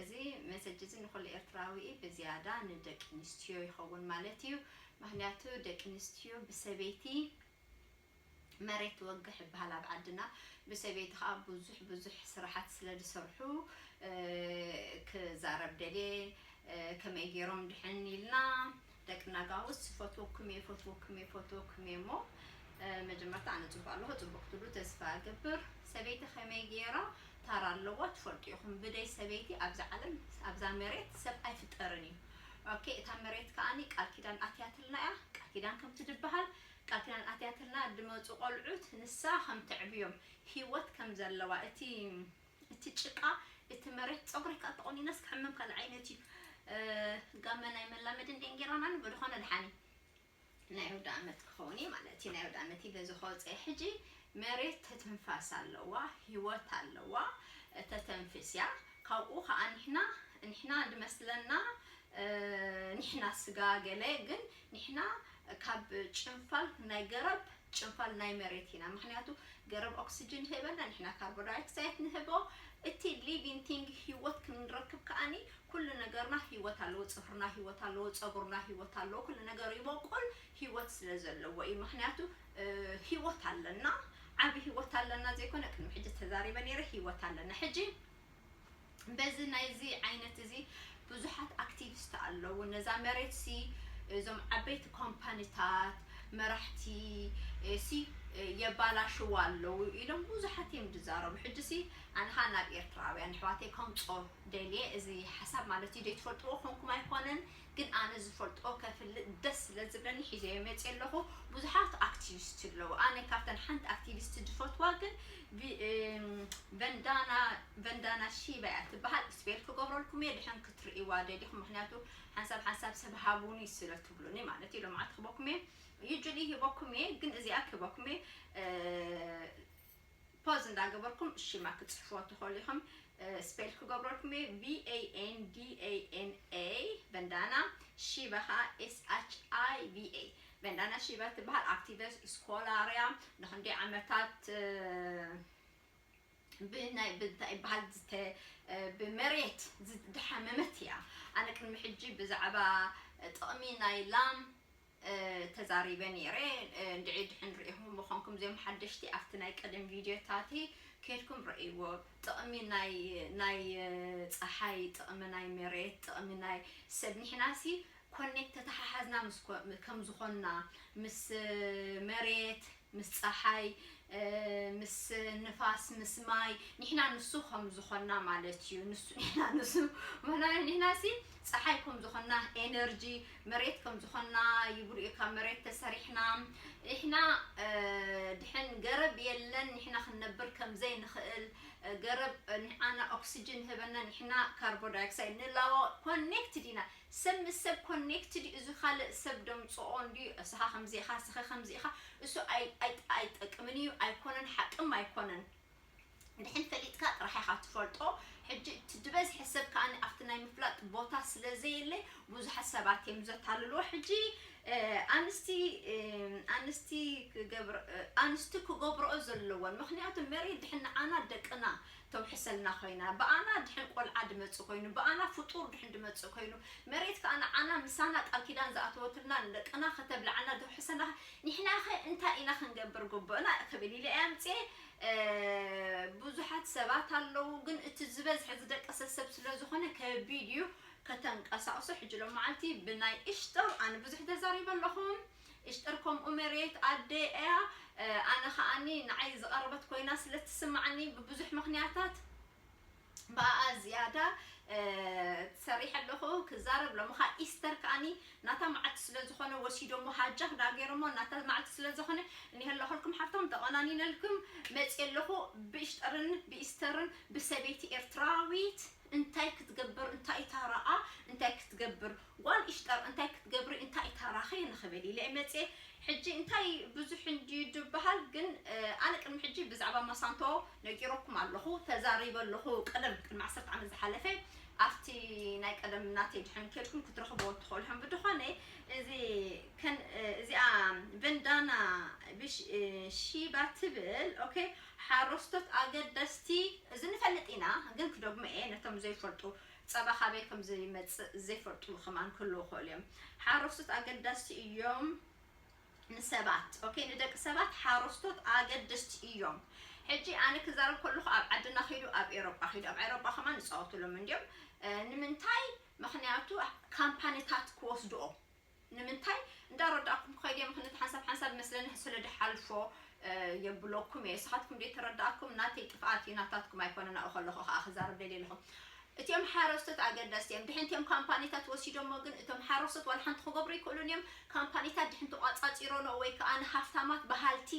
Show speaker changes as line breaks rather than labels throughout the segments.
እዚ መሰጅ እዚ ንኹሉ ኤርትራዊ እዩ ብዝያዳ ንደቂንስትዮ ይኸውን ማለት እዩ ምኽንያቱ ደቂንስትዮ ብሰበይቲ መሬት ትወግሕ ይብሃል ኣብ ዓድና ብሰበይቲ ከኣ ብዙሕ ብዙሕ ስራሓት ስለ ዝሰርሑ ክዛረብ ደልየ ከመይ ጌሮም ድሕን ኢልና ደቂ ናጋውስ ይፈትወኩም እየ ይፈትወኩም እየ ይፈትወኩም እየ እሞ መጀመርታ ኣነ ፅቡቅ ኣለኹ ፅቡቅ ክትብሉ ተስፋ እገብር ሰበይቲ ከመይ ገይራ ታራ ኣለዋ ትፈልጡ ኢኹም ብደይ ሰበይቲ ኣብዛ ዓለም ኣብዛ መሬት ሰብ ኣይፍጠርን እዩ ኦኬ እታ መሬት ከዓኒ ቃል ኪዳን ኣትያትልና እያ ቃል ኪዳን ከም ትድበሃል ቃል ኪዳን ኣትያትልና ድመፁ ቆልዑት ንሳ ከም ተዕብዮም ሂወት ከም ዘለዋ እቲ እቲ ጭቃ እቲ መሬት ጸጉረይ ከኣ ተቆኒነስ ክሕምም ካልእ ዓይነት እዩ ጋመን ኣይመላመድን ድየን ጌራናኒ ብድኾነ ድሓን እዩ ናይ ኣውዳኣመት ክኸውን እዩ ማለት እዩ ናይ ኣውዳኣመት እዩ በዚ ከወፀ ሕጂ መሬት ተትንፋስ ኣለዋ ሂወት ኣለዋ ተተንፍስ እያ ካብኡ ከዓ ንሕና ንሕና ድመስለና ንሕና ስጋ ገለ ግን ንሕና ካብ ጭንፋል ናይ ገረብ ጭንፋል ናይ መሬት ኢና ምክንያቱ ገረብ ኦክስጅን ይህበና ንሕና ካርቦዳይክሳይት ንህቦ እቲ ሊቪን ቲንግ ሂወት ክንረክብ ከኣኒ ኩሉ ነገርና ሂወት ኣለዎ ጽፍርና ሂወት ኣለዎ ጸጉርና ሂወት ኣለዎ ኩሉ ነገር ይቦቁል ሂወት ስለ ዘለዎ እዩ ምክንያቱ ሂወት ኣለና ዓቢ ሂወት ኣለና ዘይኮነ ቅድሚ ሕጂ ተዛሪበ ነይረ ሂወት ኣለና ሕጂ በዚ ናይዚ ዓይነት እዚ ብዙሓት ኣክቲቪስት ኣለዉ ነዛ መሬት ሲ እዞም ዓበይቲ ኮምፓኒታት መራሕቲ ሲ የባላሽዋ ኣለዉ ኢሎም ብዙሓት እዮም ዝዛረቡ ሕጂ ሲ ኣንሃ ናብ ኤርትራውያን ኣሕዋተይ ከምጾ ደልየ እዚ ሓሳብ ማለት እዩ ዘይትፈልጥዎ ኮንኩም ኣይኮነን ግን ኣነ ዝፈልጦ ከፍልጥ ደስ ስለ ዝብለኒ ሒዘዮ መጽየ ኣለኹ ብዙሓት ኣክቲቪስቲ ኣለዉ ኣነ ካብተን ሓንቲ ኣክቲቪስቲ ዝፈትዋ ግን ቨንዳና ቨንዳና ሺባ እያ ትበሃል ስፔል ክገብረልኩም እየ ድሕን ክትርእይዋ ደሊኹም ምክንያቱ ሓንሳብ ሓንሳብ ሰብ ሃቡኒ ስለ ትብሉኒ ማለት እዩ ሎምዓልቲ ክበኩም እየ ዩጁሊ ሂበኩም እየ ግን እዚኣ ክበኩም እየ ፖዝ እንዳገበርኩም ሽማ ክትጽሕፍዎ ትኸእሉ ኢኹም ስፔል ክገብረልኩም እየ VANDANA በንዳና ሺባ ኸኣ SHIBA በንዳና ሺባ ትበሃል ኣክቲቨስ ስኮላርያ ንኽንደይ ዓመታት ብናይ ብንታይ ይበሃል ዝተ ብመሬት ዝደሓመመት እያ ኣነ ቅድሚ ሕጂ ብዛዕባ ጥቕሚ ናይ ላም ተዛሪበ ኔረ እንድዒ ድሕን ሪኢኹም ምኾንኩም እዚኦም ሓደሽቲ ኣብቲ ናይ ቀደም ቪድዮታቲ ከድኩም ረእይዎ ጥቕሚ ናይ ናይ ጸሓይ ጥቕሚ ናይ መሬት ጥቕሚ ናይ ሰብ ኒሕናሲ ኮኔክት ተተሓሓዝና ምስ ከም ዝኾንና ምስ መሬት ምስ ጸሓይ ምስ ንፋስ ምስ ማይ ንሕና ንሱ ከም ዝኾንና ማለት እዩ ንሱ ንሕና ንሱ ማለት ንሕና ሲ ጸሓይ ከም ዝኾንና ኤነርጂ መሬት ከም ዝኾንና ይብሉ እዩ ካብ መሬት ተሰሪሕና ንሕና ድሕን ገረብ የለን ንሕና ክንነብር ከም ዘይንኽእል ገረብ ንዓና ኦክሲጅን ህበና ንሕና ካርቦን ዳይኦክሳይድ ንላቦ ኮኔክትድ ኢና ሰብ ምስ ሰብ ኮኔክትድ ዩ እዚ ካልእ ሰብ ደምጽኦ እንድዩ እስኻ ከምዚ ኢኻ እስኺ ከምዚ ኢኻ እሱ ኣይጠቅምን ዩ ኣይኮነን ሓቅም ኣይኮነን ድሕን ፈሊጥካ ጥራሕ ኢኻ ትፈልጦ ሕጂ እቲ ድበዝሐ ሰብ ከኣ ኣብቲ ናይ ምፍላጥ ቦታ ስለ ዘየለ ቡዙሓት ሰባት ዮም ዘታልልዎ ሕጂ ኣንስቲ ኣንስቲ ክገብር ኣንስቲ ክገብርኦ ዘለወን ምኽንያቱ መሬት ድሕን ንዓና ደቅና ተውሕሰልና ኮይና ብኣና ድሕን ቆልዓ ድመጽእ ኮይኑ ብኣና ፍጡር ድሕን ድመጽእ ኮይኑ መሬት ከኣ ንዓና ምሳና ቃል ኪዳን ዝኣተወትልና ንደቅና ከተብልዓና ተውሕሰና ኒሕናኸ እንታይ ኢና ክንገብር ጉቡእና ክብል ኢለ እየ ኣምጺኤ ብዙሓት ሰባት ኣለዉ ግን እቲ ዝበዝሐ ዝደቀሰ ሰብ ስለ ዝኾነ ከቢድ እዩ ከተንቀሳቕሶ ሕጂ ሎማዓልቲ ብናይ እሽጦር ኣነ ብዙሕ ተዛሪበ ኣለኹ ኢሽጠር ከምኡ መርየት ኣደይ ኣያ ኣነ ከኣኒ ንዓይ ዝቀረበት ኮይና ስለ ትስማዓኒ ብብዙሕ ምክንያታት ብኣኣ ዝያዳ ሰሪሐ ኣለኹ ክዛረብ ሎሚ ከኣ ኢስተር ከኣኒ ናታ መዓልቲ ስለ ዝኾነ ወሲዶሞ ሃጃክ ዳ ገይሮሞ ናታ መዓልቲ ስለ ዝኾነ እኒሀ ኣለኹልኩም ሓፍቶም ተቆናኒነልኩም መጽየ ኣለኹ ብኢሽጠርን ብኢስተርን ብሰበይቲ ኤርትራዊት እንታይ ክትገብር እንታይ ታራኣ እንታይ ክትገብር ጓል ኢሽጠር እንታይ ክትገብሪ እንታይ ታራኺ ንኽብል ኢለ መጽየ ሕጂ እንታይ ብዙሕ እንድዩ ድብሃል ግን ኣነ ቅድሚ ሕጂ ብዛዕባ ማሳንቶ ነጊረኩም ኣለኹ ተዛሪበ ኣለኹ ቀደም ቅድሚ ዓሰርተ ዓመት ዝሓለፈ ኣብቲ ናይ ቀደም ናተይ ድሕን ከድኩም ክትረኽብዎ ትኽእሉ ሕም ብድኾነ እዚ ከን እዚኣ ቨንዳና ሺባ ትብል ኦኬ ሓረስቶት ኣገደስቲ እዚ ንፈልጥ ኢና ግን ክደግሞ እየ ነቶም ዘይፈልጡ ጸባ ካበይ ከም ዘይመጽእ ዘይፈልጡ ከማን ክህልዉ ይኽእሉ እዮም። ሓረስቶት ኣገዳስቲ እዮም ንሰባት ኦኬ ንደቂ ሰባት ሓረስቶት ኣገደስቲ እዮም። ሕጂ ኣነ ክዛረብ ከለኹ ኣብ ዓድና ኪዱ ኣብ ኤሮጳ ኪዱ ኣብ ኤሮጳ ከማን ይጻወቱሎም እንድዮም ንምንታይ ምኽንያቱ ካምፓኒታት ክወስድኦ ንምንታይ እንዳረዳእኩም ክኸይድ እየ ምኽንት ሓንሳብ ሓንሳብ መስለኒ ስለ ድሓልፎ የብሎኩም እየ ንስኻትኩም ደይ ተረዳእኩም ናተይ ጥፍኣት እዩ ናታትኩም ኣይኮነን ኣብኡ ከለኹ ከኣ ክዛረብ ደልየ ኣለኹ እቲኦም ሓረስቶት ኣገደስቲ እዮም ድሕንቲ እዮም ካምፓኒታት ወሲዶሞ ግን እቶም ሓረስቶት ዋላ ሓንቲ ክገብሩ ይክእሉን እዮም ካምፓኒታት ድሕንቲ ቋጻጺሮኖ ወይ ከዓ ንሃፍታማት በሃልቲ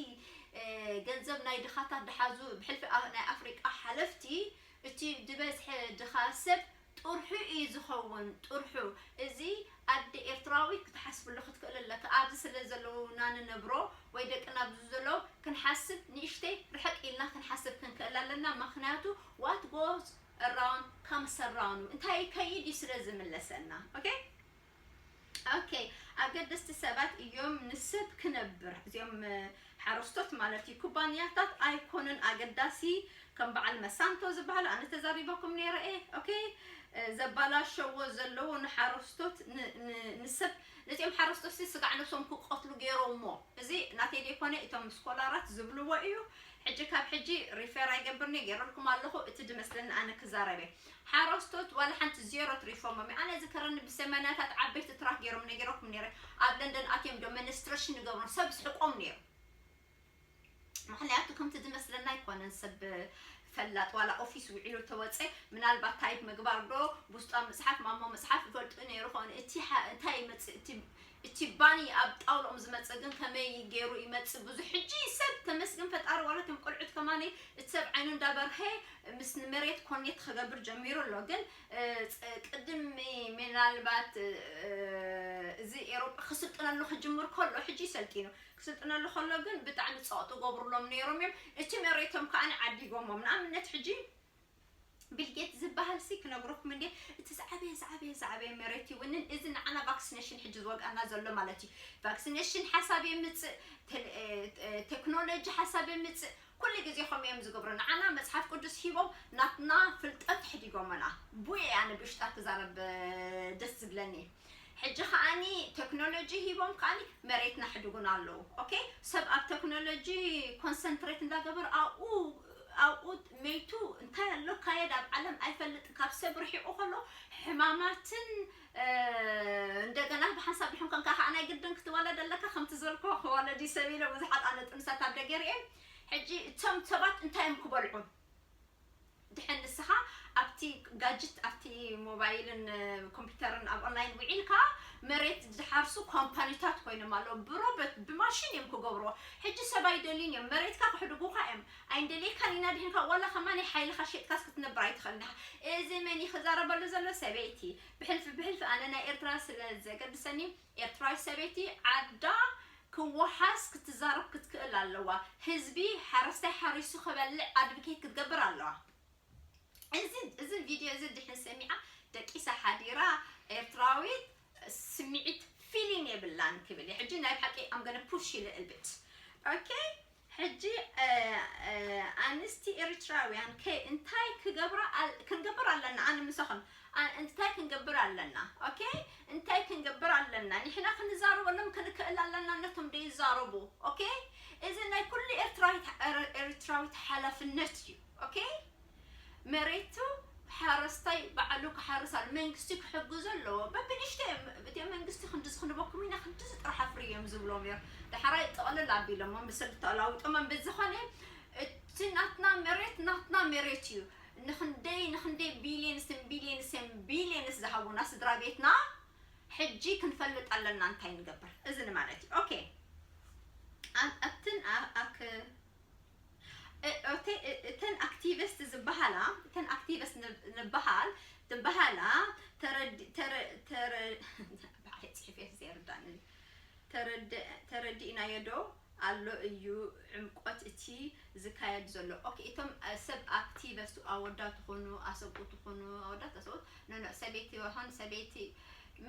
ገንዘብ ናይ ድኻታት ድሓዙ ብሕልፊ ናይ ኣፍሪቃ ሓለፍቲ እቲ ድበዝሐ ድኻ ሰብ ጥርሑ ኢዩ ዝኸውን ጥርሑ እዚ ኣደ ኤርትራዊት ክትሓስብሉ ክትክእል ኣለካ ኣብዚ ስለ ዘለውና ንነብሮ ወይ ደቅና ኣብዚ ዘሎ ክንሓስብ ንእሽተይ ርሕቅ ኢልና ክንሓስብ ክንክእል ኣለና መኽንያቱ what goes around comes around እንታይ ይከይድ ኢዩ ስለ ዝምለሰና ok ኦኬ ኣገደስቲ ሰባት እዮም ንሰብ ክነብር እዚኦም ሓረስቶት ማለት እዩ ኩባንያታት ኣይኮኑን ኣገዳሲ ከም በዓል መሳንቶ ዝበሃሉ ኣነ ተዛሪበኩም ነይረ እየ ኦኬ ዘባላሸዎ ዘለዎ ንሓረስቶት ንሰብ ነዚኦም ሓረስቶት ስጋዕ ነብሶም ክቀትሉ ገይሮሞ እዚ ናተይ ዘይኮነ እቶም ስኮላራት ዝብልዎ እዩ ሕጂ ካብ ሕጂ ሪፌር ኣይገብርኒ ገይረልኩም ኣለኹ እቲ ድመስለኒ ኣነ ክዛረበ ሓረስቶት ዋላ ሓንቲ ዜሮ ትሪፎሞም እዩ ኣነ ዝከረኒ ብሰመናታት ዓበይቲ ትራክ ጌሮም ነጊረኩም ነይረ ኣብ ለንደን ኣትዮም ዶመንስትረሽን ንገብሮም ሰብ ዝሕቆም ነይሩ ምክንያቱ ከምቲ ዝመስለና ኣይኮነን ሰብ ፈላጥ ዋላ ኦፊስ ውዒሉ ተወፀ ምናልባት ታይፕ ምግባር ዶ ውስጧ መፅሓፍ ማሞ መፅሓፍ ይፈልጡ ነይሩ ኾን እቲ እንታይ ይመፅእ እቲ እቲ ባኒ ኣብ ጣውልኦም ዝመጽእ ግን ከመይ ጌሩ ይመጽእ ብዙሕ ሕጂ ሰብ ተመስገን ፈጣሪ ዋላ እቶም ቆልዑት ከማነይ እቲ ሰብ ዓይኑ እንዳ በርሀ ምስ ንመሬት ኮኔት ኸገብር ጀሚሩ ኣሎ ግን ቅድሚ ምናልባት እዚ ኤሮጳ ክስልጥነሉ ክጅምር ከሎ ሕጂ ሰልጢኑ ክስልጥነሉ ከሎ ግን ብጣዕሚ ጸቕጢ ገብሩሎም ነይሮም እዮም እቲ መሬቶም ከኣ ዓዲጎሞም ንኣብነት ሕጂ ቢልጌት ዝባሃልሲ ክነግረኩም እንድየ እቲ ዝዓበየ ዝዓበየ ዝዓበየ መሬት ይውንን እዚ ንዓና ቫክስነሽን ሕጂ ዝወግኣና ዘሎ ማለት እዩ ቫክስነሽን ሓሳብ የምጽእ ቴክኖሎጂ ሓሳብ የምጽእ ኩሉ ግዜ ከምኡ እዮም ዝገብሩ ንዓና መጽሓፍ ቅዱስ ሂቦም ናትና ፍልጠት ሕዲጎመና ቡየ ኣነ ብሽጣ ክዛረብ ደስ ዝብለኒ ሕጂ ከኣኒ ተክኖሎጂ ሂቦም ከኣኒ መሬት ናሕድጉና ኣለዉ ኦኬ ሰብ ኣብ ተክኖሎጂ ኮንሰንትሬት እንዳገበሩ ኣብኡ ኣብኡ መይቱ እንታይ ኣሎ ካየድ ኣብ ዓለም ኣይፈልጥን ካብ ሰብ ርሒቑ ከሎ ሕማማትን እንደገና ብሓንሳብ ድሕን ኮንካ ከዓ ናይ ግድን ክትወለድ ኣለካ ከምቲ ዘልኮ ክወለድ እዩ ሰብ ኢለ ብዙሓት ኣነ ጥንሳት ኣብ ደገ ርኤ ሕጂ እቶም ሰባት እንታይ እዮም ክበልዑ ድሐን ንስኻ ኣብቲ ጋጅት ኣብቲ ሞባይልን ኮምፒተርን ኣብ ኦንላይን ዊዒልካ መሬት ዝሓርሱ ኮምፓኒታት ኮይኖም ኣለዉ ብሮበት ብማሽን እዮም ክገብርዎ ሕጂ ሰብ ኣይደልዩን እዮም መሬትካ ክሕድጉካ እዮም ኣይንደልየካን ኢና ድሕንካ ዋላ ከማ ናይ ሓይልካ ሸጥካስ ክትነብር ኣይትኽእልን ኢኻ እዚ መን እዩ ክዛረበሉ ዘሎ ሰበይቲ ብሕልፊ ብሕልፊ ኣነ ናይ ኤርትራ ስለ ዘገድሰኒ ኤርትራዊት ሰበይቲ ዓዳ ክዋሓስ ክትዛረብ ክትክእል ኣለዋ ህዝቢ ሓረስታይ ሓሪሱ ክበልዕ ኣድብኬት ክትገብር ኣለዋ እዚ እዚ ቪድዮ እዚ ድሕን ሰሚዓ ደቂሳ ሓዲራ ኤርትራዊት ስሚዒት ፊሊን የብላን ክብል ሕጂ ናይ ብሓቂ ኣም ገነ ፑሽ ኢለ እልብጭ ኦኬ ሕጂ ኣንስቲ ኤሪትራውያን ከ እንታይ ክገብራ ኣል ክንገብር ኣለና ኣነ ምሳኽን ኣን እንታይ ክንገብር ኣለና ኦኬ እንታይ ክንገብር ኣለና ንሕና ክንዛረበሎም ክንክእል ኣለና ነቶም ደይዛረቡ ኦኬ እዚ ናይ ኩሉ ኤርትራዊት ኤሪትራዊት ሓላፍነት እዩ ኦኬ መሬቱ ሓረስታይ ባዕሉ ክሓርስ ኣለ መንግስቲ ክሕግዞ ኣለዎ በብንእሽተይ እዮም እቲኦም መንግስቲ ክንድዚ ክንበኩም ኢና ክንድዚ ጥራሕ ኣፍርዩ እዮም ዝብሎም ነይሩ ዳሕራይ ጥቕልል ኣቢሎሞ ብሰንኪ ተላዊጦሞ ብዝኾነ እቲ ናትና መሬት ናትና መሬት እዩ ንክንደይ ንክንደይ ቢልየንስን ቢልየንስን ቢልየንስ ዝሃቡና ስድራ ቤትና ሕጂ ክንፈልጥ ኣለና እንታይ ንገብር እዚ ንማለት እዩ ኦኬ ኣብትን ኣክ እተን ኣክቲቭስት ዝባሃላ እተን ኣክቲቭስት ንባሃል ዝባሃላ ባዕለይ ፅሒፈ ዘይርዳእኒ ተረዲእናዮ ዶ ኣሎ እዩ ዕምቆት እቲ ዝካየድ ዘሎ ኦኬ እቶም ሰብ ኣክቲቨስት ኣወዳት ትኾኑ ኣሰብኡት ትኾኑ ኣወዳት ኣሰብኡት ኖኖ ሰበይቲ ሆን ሰበይቲ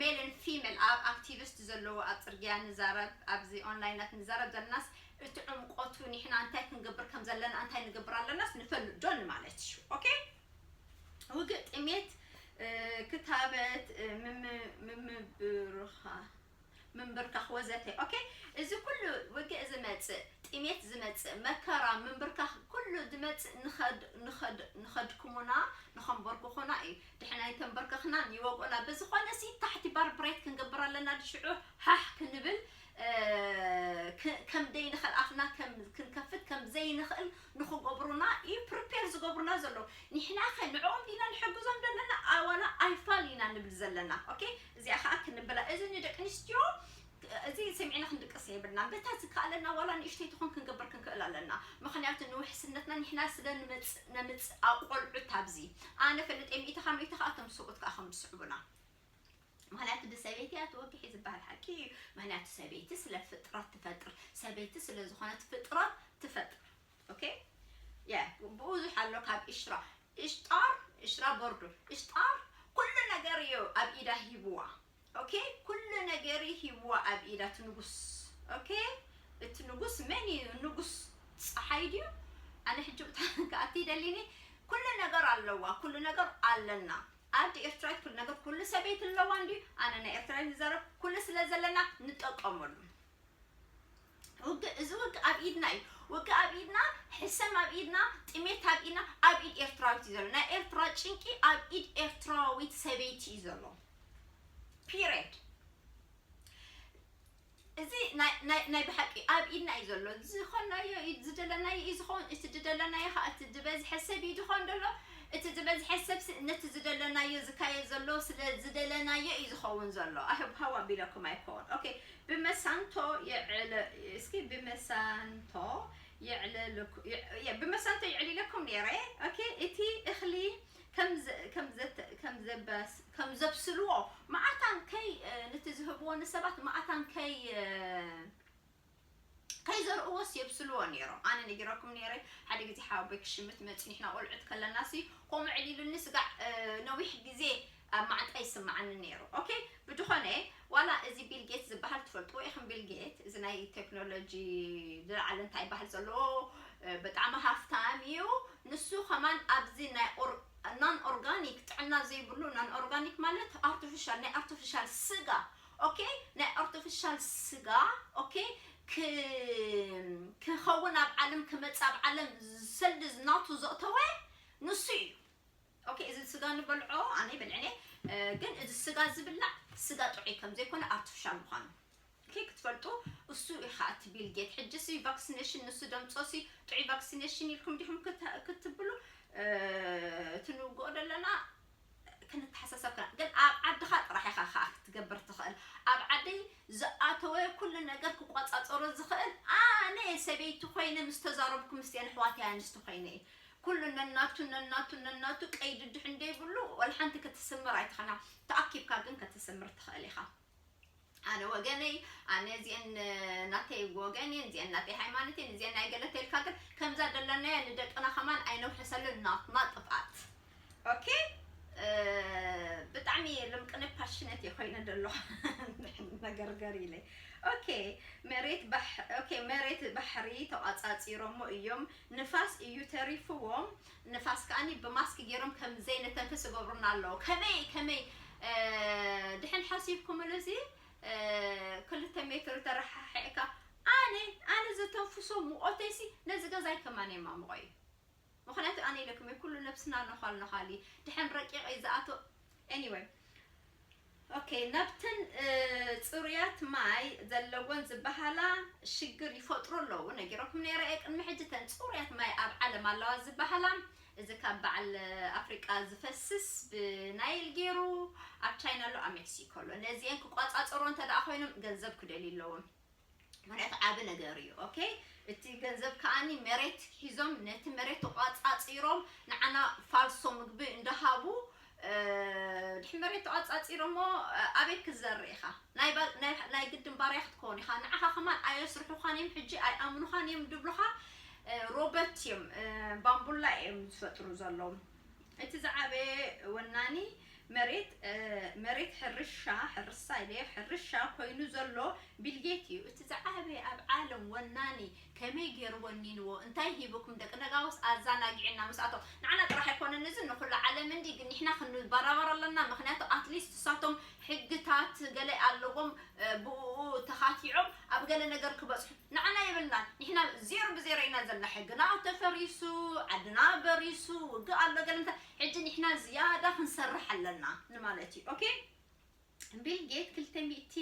ሜልን ፊሜል ኣብ ኣክቲቪስት ዘለዎ ኣብ ፅርግያ ንዛረብ ኣብዚ ኦንላይናት ንዛረብ ዘለናስ እቲ ዕምቆቱ ኒሕና እንታይ ክንገብር ከም ዘለና እንታይ ንገብር ኣለናስ ንፈልጥ ዶ ንማለት እዩ ኦኬ ውግእ ጥሜት ክታበት ምምብርኻ ምንብርካኽ ወዘተ ኦኬ እዚ ኩሉ ውግእ ዝመጽእ ጥሜት ዝመጽእ መከራ ምንብርካኽ ኩሉ ዝመጽእ ንኸድክሙና ንኸንበርክኹና እዩ ድሕና ይተንበርከኽናን ይወግኡና ብዝኾነ ሲ ታሕቲ ባርብሬት ክንገብር ኣለና ድሽዑ ሓሕ ክንብል ከም ደይንኸል ኣፍና ከም ክንከፍት ከም ዘይንኽእል ንኽገብሩና ኢዩ ፕርፔር ዝገብሩና ዘለዉ ኒሕናኸ ንዕኦም ዲና ንሕግዞም ደለና ኣዋላ ኣይፋል ኢና ንብል ዘለና ኦኬ እዚኣ ኸኣ ክንብላ እዚ ንደቂ ኣንስትዮ እዚ ሰሚዕና ክንድቅስ የብልናን በታ ዝከኣለና ዋላ ንእሽተይ ትኹን ክንገብር ክንክእል ኣለና ምኽንያቱ ንውሕስነትና ኒሕና ስለ ንመጽእ ነምጽእ ኣቆልዑት ኣብዚ ኣነ ፈልጥ እየ ሚእቲ ካብ ሚእቲ ኸኣ እቶም ሰብኡት ከኣ ከም ዝስዕቡና ምክንያቱ ብሰበይቲ እያ ተወጊሒ ዝበሃል ሓቂ እዩ ምክንያቱ ሰበይቲ ስለ ፍጥረት ትፈጥር ሰበይቲ ስለ ዝኮነት ፍጥረት ትፈጥር ኦኬ ያ ብዙሕ ኣሎ ካብ ኢሽራ ኢሽጣር ኢሽራ ቦርዱ ኢሽጣር ኩሉ ነገር እዩ ኣብ ኢዳ ሂብዋ ኦኬ ኩሉ ነገር ሂብዋ ኣብ ኢዳ እቲ ንጉስ ኦኬ እቲ ንጉስ መን እዩ ንጉስ ፀሓይ ድዩ ኣነ ሕጂ ብታ ክኣቲ ይደሊኒ ኩሉ ነገር ኣለዋ ኩሉ ነገር ኣለና ኣደ ኤርትራዊት ኩሉ ነገር ኩሉ ሰበይቲ ኣለዋ እንድዩ ኣነ ናይ ኤርትራዊት ዝዛረብ ኩሉ ስለ ዘለና ንጠቀመሉ ውግእ እዚ ውግእ ኣብ ኢድና እዩ ውግእ ኣብ ኢድና ሕሰም ኣብ ኢድና ጥሜት ኣብ ኢድና ኣብ ኢድ ኤርትራዊት እዩ ዘሎ ናይ ኤርትራ ጭንቂ ኣብ ኢድ ኤርትራዊት ሰበይቲ እዩ ዘሎ ፒሬድ እዚ ናይ ናይ ብሓቂ ኣብ ኢድና እዩ ዘሎ ዝኮናዮ ኢድ ዝደለናዮ እዩ ዝኮን እቲ ዝደለናዮ ከኣ እቲ ዝበዝሐ ሰብ እዩ ዝኮን ዘሎ እቲ ዝበዝሐ ሰብ ነቲ ዝደለናዮ ዝካየድ ዘሎ ስለ ዝደለናዮ እዩ ዝከውን ዘሎ ኣህብ ሃው ኣቢለኩም ኣይኮን ኦኬ ብመሳንቶ የዕለ እስኪ ብመሳንቶ የዕለልኩ ብመሳንቶ የዕሊለኩም ነይረ ኦኬ እቲ እክሊ ከም ዘብስልዎ መኣታን ከይ ንቲ ዝህብዎ ንሰባት መኣታን ከይ ዘርእዎስ የብስልዎ ኔሮም ኣነ ነጊረኩም ኔረ ሓደ ግዜ ሓወቦይ ክሽምት መጽዩ ንሕና ቆልዑት ከለና ሲ ከምኡ ዕሊሉኒ ስጋዕ ነዊሕ ግዜ ኣብ ማዓንጣይ ይስማዓኒ ነይሩ ኦኬ ብድኾነ ዋላ እዚ ቢል ጌት ዝባሃል ትፈልጥዎ ኢኽም ቢል ጌት እዚ ናይ ተክኖሎጂ ዝላዓለ እንታይ ይባሃል ዘለዎ ብጣዕሚ ሃፍታም እዩ ንሱ ከማን ኣብዚ ናይ ናን ኦርጋኒክ ጥዕና ዘይብሉ ናን ኦርጋኒክ ማለት ኣርቲፊሻል ናይ ኣርቲፊሻል ስጋ ኦኬ ናይ ኣርቲፊሻል ስጋ ኦኬ ክኸውን ኣብ ዓለም ክመጽእ ኣብ ዓለም ሰልዲ ናቱ ዘእተወ ንሱ እዩ ኦኬ እዚ ስጋ ንበልዖ ኣነ ይበልዕን እየ ግን እዚ ስጋ ዝብላዕ ስጋ ጥዑይ ከም ዘይኮነ ኣርቲፊሻል ምዃኑ ኦኬ ክትፈልጡ እሱ ኢኻ እቲ ቢል ጌት ሕጂ ሲ ቫክሲኔሽን ንሱ ደምጾ ሲ ጥዑይ ቫክሲኔሽን ኢልኩም ዲኹም ክት- ክትብሉ እ፣ እቲ ንውግኦ ዘለና ክንተሓሳሰብ ክና ግን ኣብ ዓድኻ ጥራሕ ኢኻ ከዓ ክትገብር ትኽእል ኣብ ዓደይ ዝኣተወ ኩሉ ነገር ክቆፃፀሮ ዝኽእል ኣነ ሰበይቲ ኮይነ ምስ ተዛረብኩ ምስቲአን ኣሕዋተይ ኣንስቲ ኮይነ እዩ ኩሉ ነናቱ ነናቱ ነናቱ ቀይዲ ድሕን ደይብሉ ወልሓንቲ ክትስምር ኣይትኸና ተኣኪብካ ግን ክትስምር ትኸእል ኢኻ ኣነ ወገነይ ኣነ እዚአን ናተይ ወገን እየን እዚአን ናተይ ሃይማኖት እየን እዚአን ናይ ገለ ተልካ ግን ከምዛ ደለናያ ንደቅና ከማን ኣይነውሕሰሉን ናትና ጥፍኣት ኦኬ ብጣዕሚ ልምቅነ ፓሽነት እየ ኮይነ ደሎ መገርገር ኢለይ ኦኬ መሬት ባሕ ኦኬ መሬት ባሕሪ ተቋጻጺሮሞ እዮም ንፋስ እዩ ተሪፍዎም ንፋስ ከኣኒ ብማስክ ጌሮም ከም ዘይንተንፍስ ይገብሩና ኣለዉ ከመይ ከመይ ድሐን ሐሲብኩምሉ እዚ ክልተ ሜትር ተረሓሒዕካ ኣነ ኣነ ዘተንፍሶ ሙቆተይሲ ነዚ ገዛይ ከማን የማሙቆ እዩ ምክንያቱ ኣነ ኢለኩም እየ ኩሉ ነብስና ነዃል ነዃል እዩ ድሐን ረቂቅ እዩ ዝኣትዎ Anyway ኦኬ ናብተን ፅሩያት ማይ ዘለወን ዝበሃላ ሽግር ይፈጥሩ ኣለዉ ነጊረኩም ነይረ እየ ቅድሚ ሕጂ ተን ፅሩያት ማይ ኣብ ዓለም ኣለዋ ዝበሃላ እዚ ካብ በዓል ኣፍሪቃ ዝፈስስ ብናይል ገይሩ ኣብ ቻይና ኣሎ ኣብ ሜክሲኮ ኣሎ ነዚአን ክቋፃፀሮ እንተደኣ ኮይኖም ገንዘብ ክደልዩ ኣለዎም መሬት ዓቢ ነገር እዩ ኦኬ እቲ ገንዘብ ከኣኒ መሬት ሒዞም ነቲ መሬት ተቋጻጺሮም ንዓና ፋልሶ ምግቢ እንዳሃቡ ድሕሪ መሬት ተቋጻጺሮሞ ኣበይ ክዘርእ ኢኻ ናይ ግድን ባርያ ክትከውን ኢኻ ንዓኻ ከማን ኣየስርሑኻን እዮም ሕጂ ኣይኣምኑኻን እዮም ድብሉኻ ሮበት እዮም ባምቡላ እዮም ዝፈጥሩ ዘለዉ እቲ ዝዓበየ ወናኒ መሬት መሬት ሕርሻ፣ ሕርሳ ኢለ፣ ሕርሻ ኮይኑ ዘሎ ቢልጌት እዩ። እቲ ዝዓበየ ኣብ ዓለም ወናኒ ከመይ ጌሩ ወኒንዎ እንታይ ሂቡኩም ደቂ ነጋውስ ኣዛናጊዕና ምስኣቶም ንዓና ጥራሕ ኣይኮነን እዚ ንኩሉ ዓለም እንዲ ግን ንሕና ክንባራበር ኣለና ምክንያቱ ኣትሊስት ንሳቶም ሕግታት ገለ ኣለዎም ብኡኡ ተካቲዖም ኣብ ገለ ነገር ክበጽሑ ንዓና የብልናን ንሕና ዜሮ ብዜሮ ኢና ዘለና ሕግና ተፈሪሱ ዓድና በሪሱ ውግእ ኣሎ ገለ እንተ ሕጂ ንሕና ዝያዳ ክንሰርሕ ኣለና ንማለት እዩ ኦኬ ቢል ጌት ክልተ ሚእቲ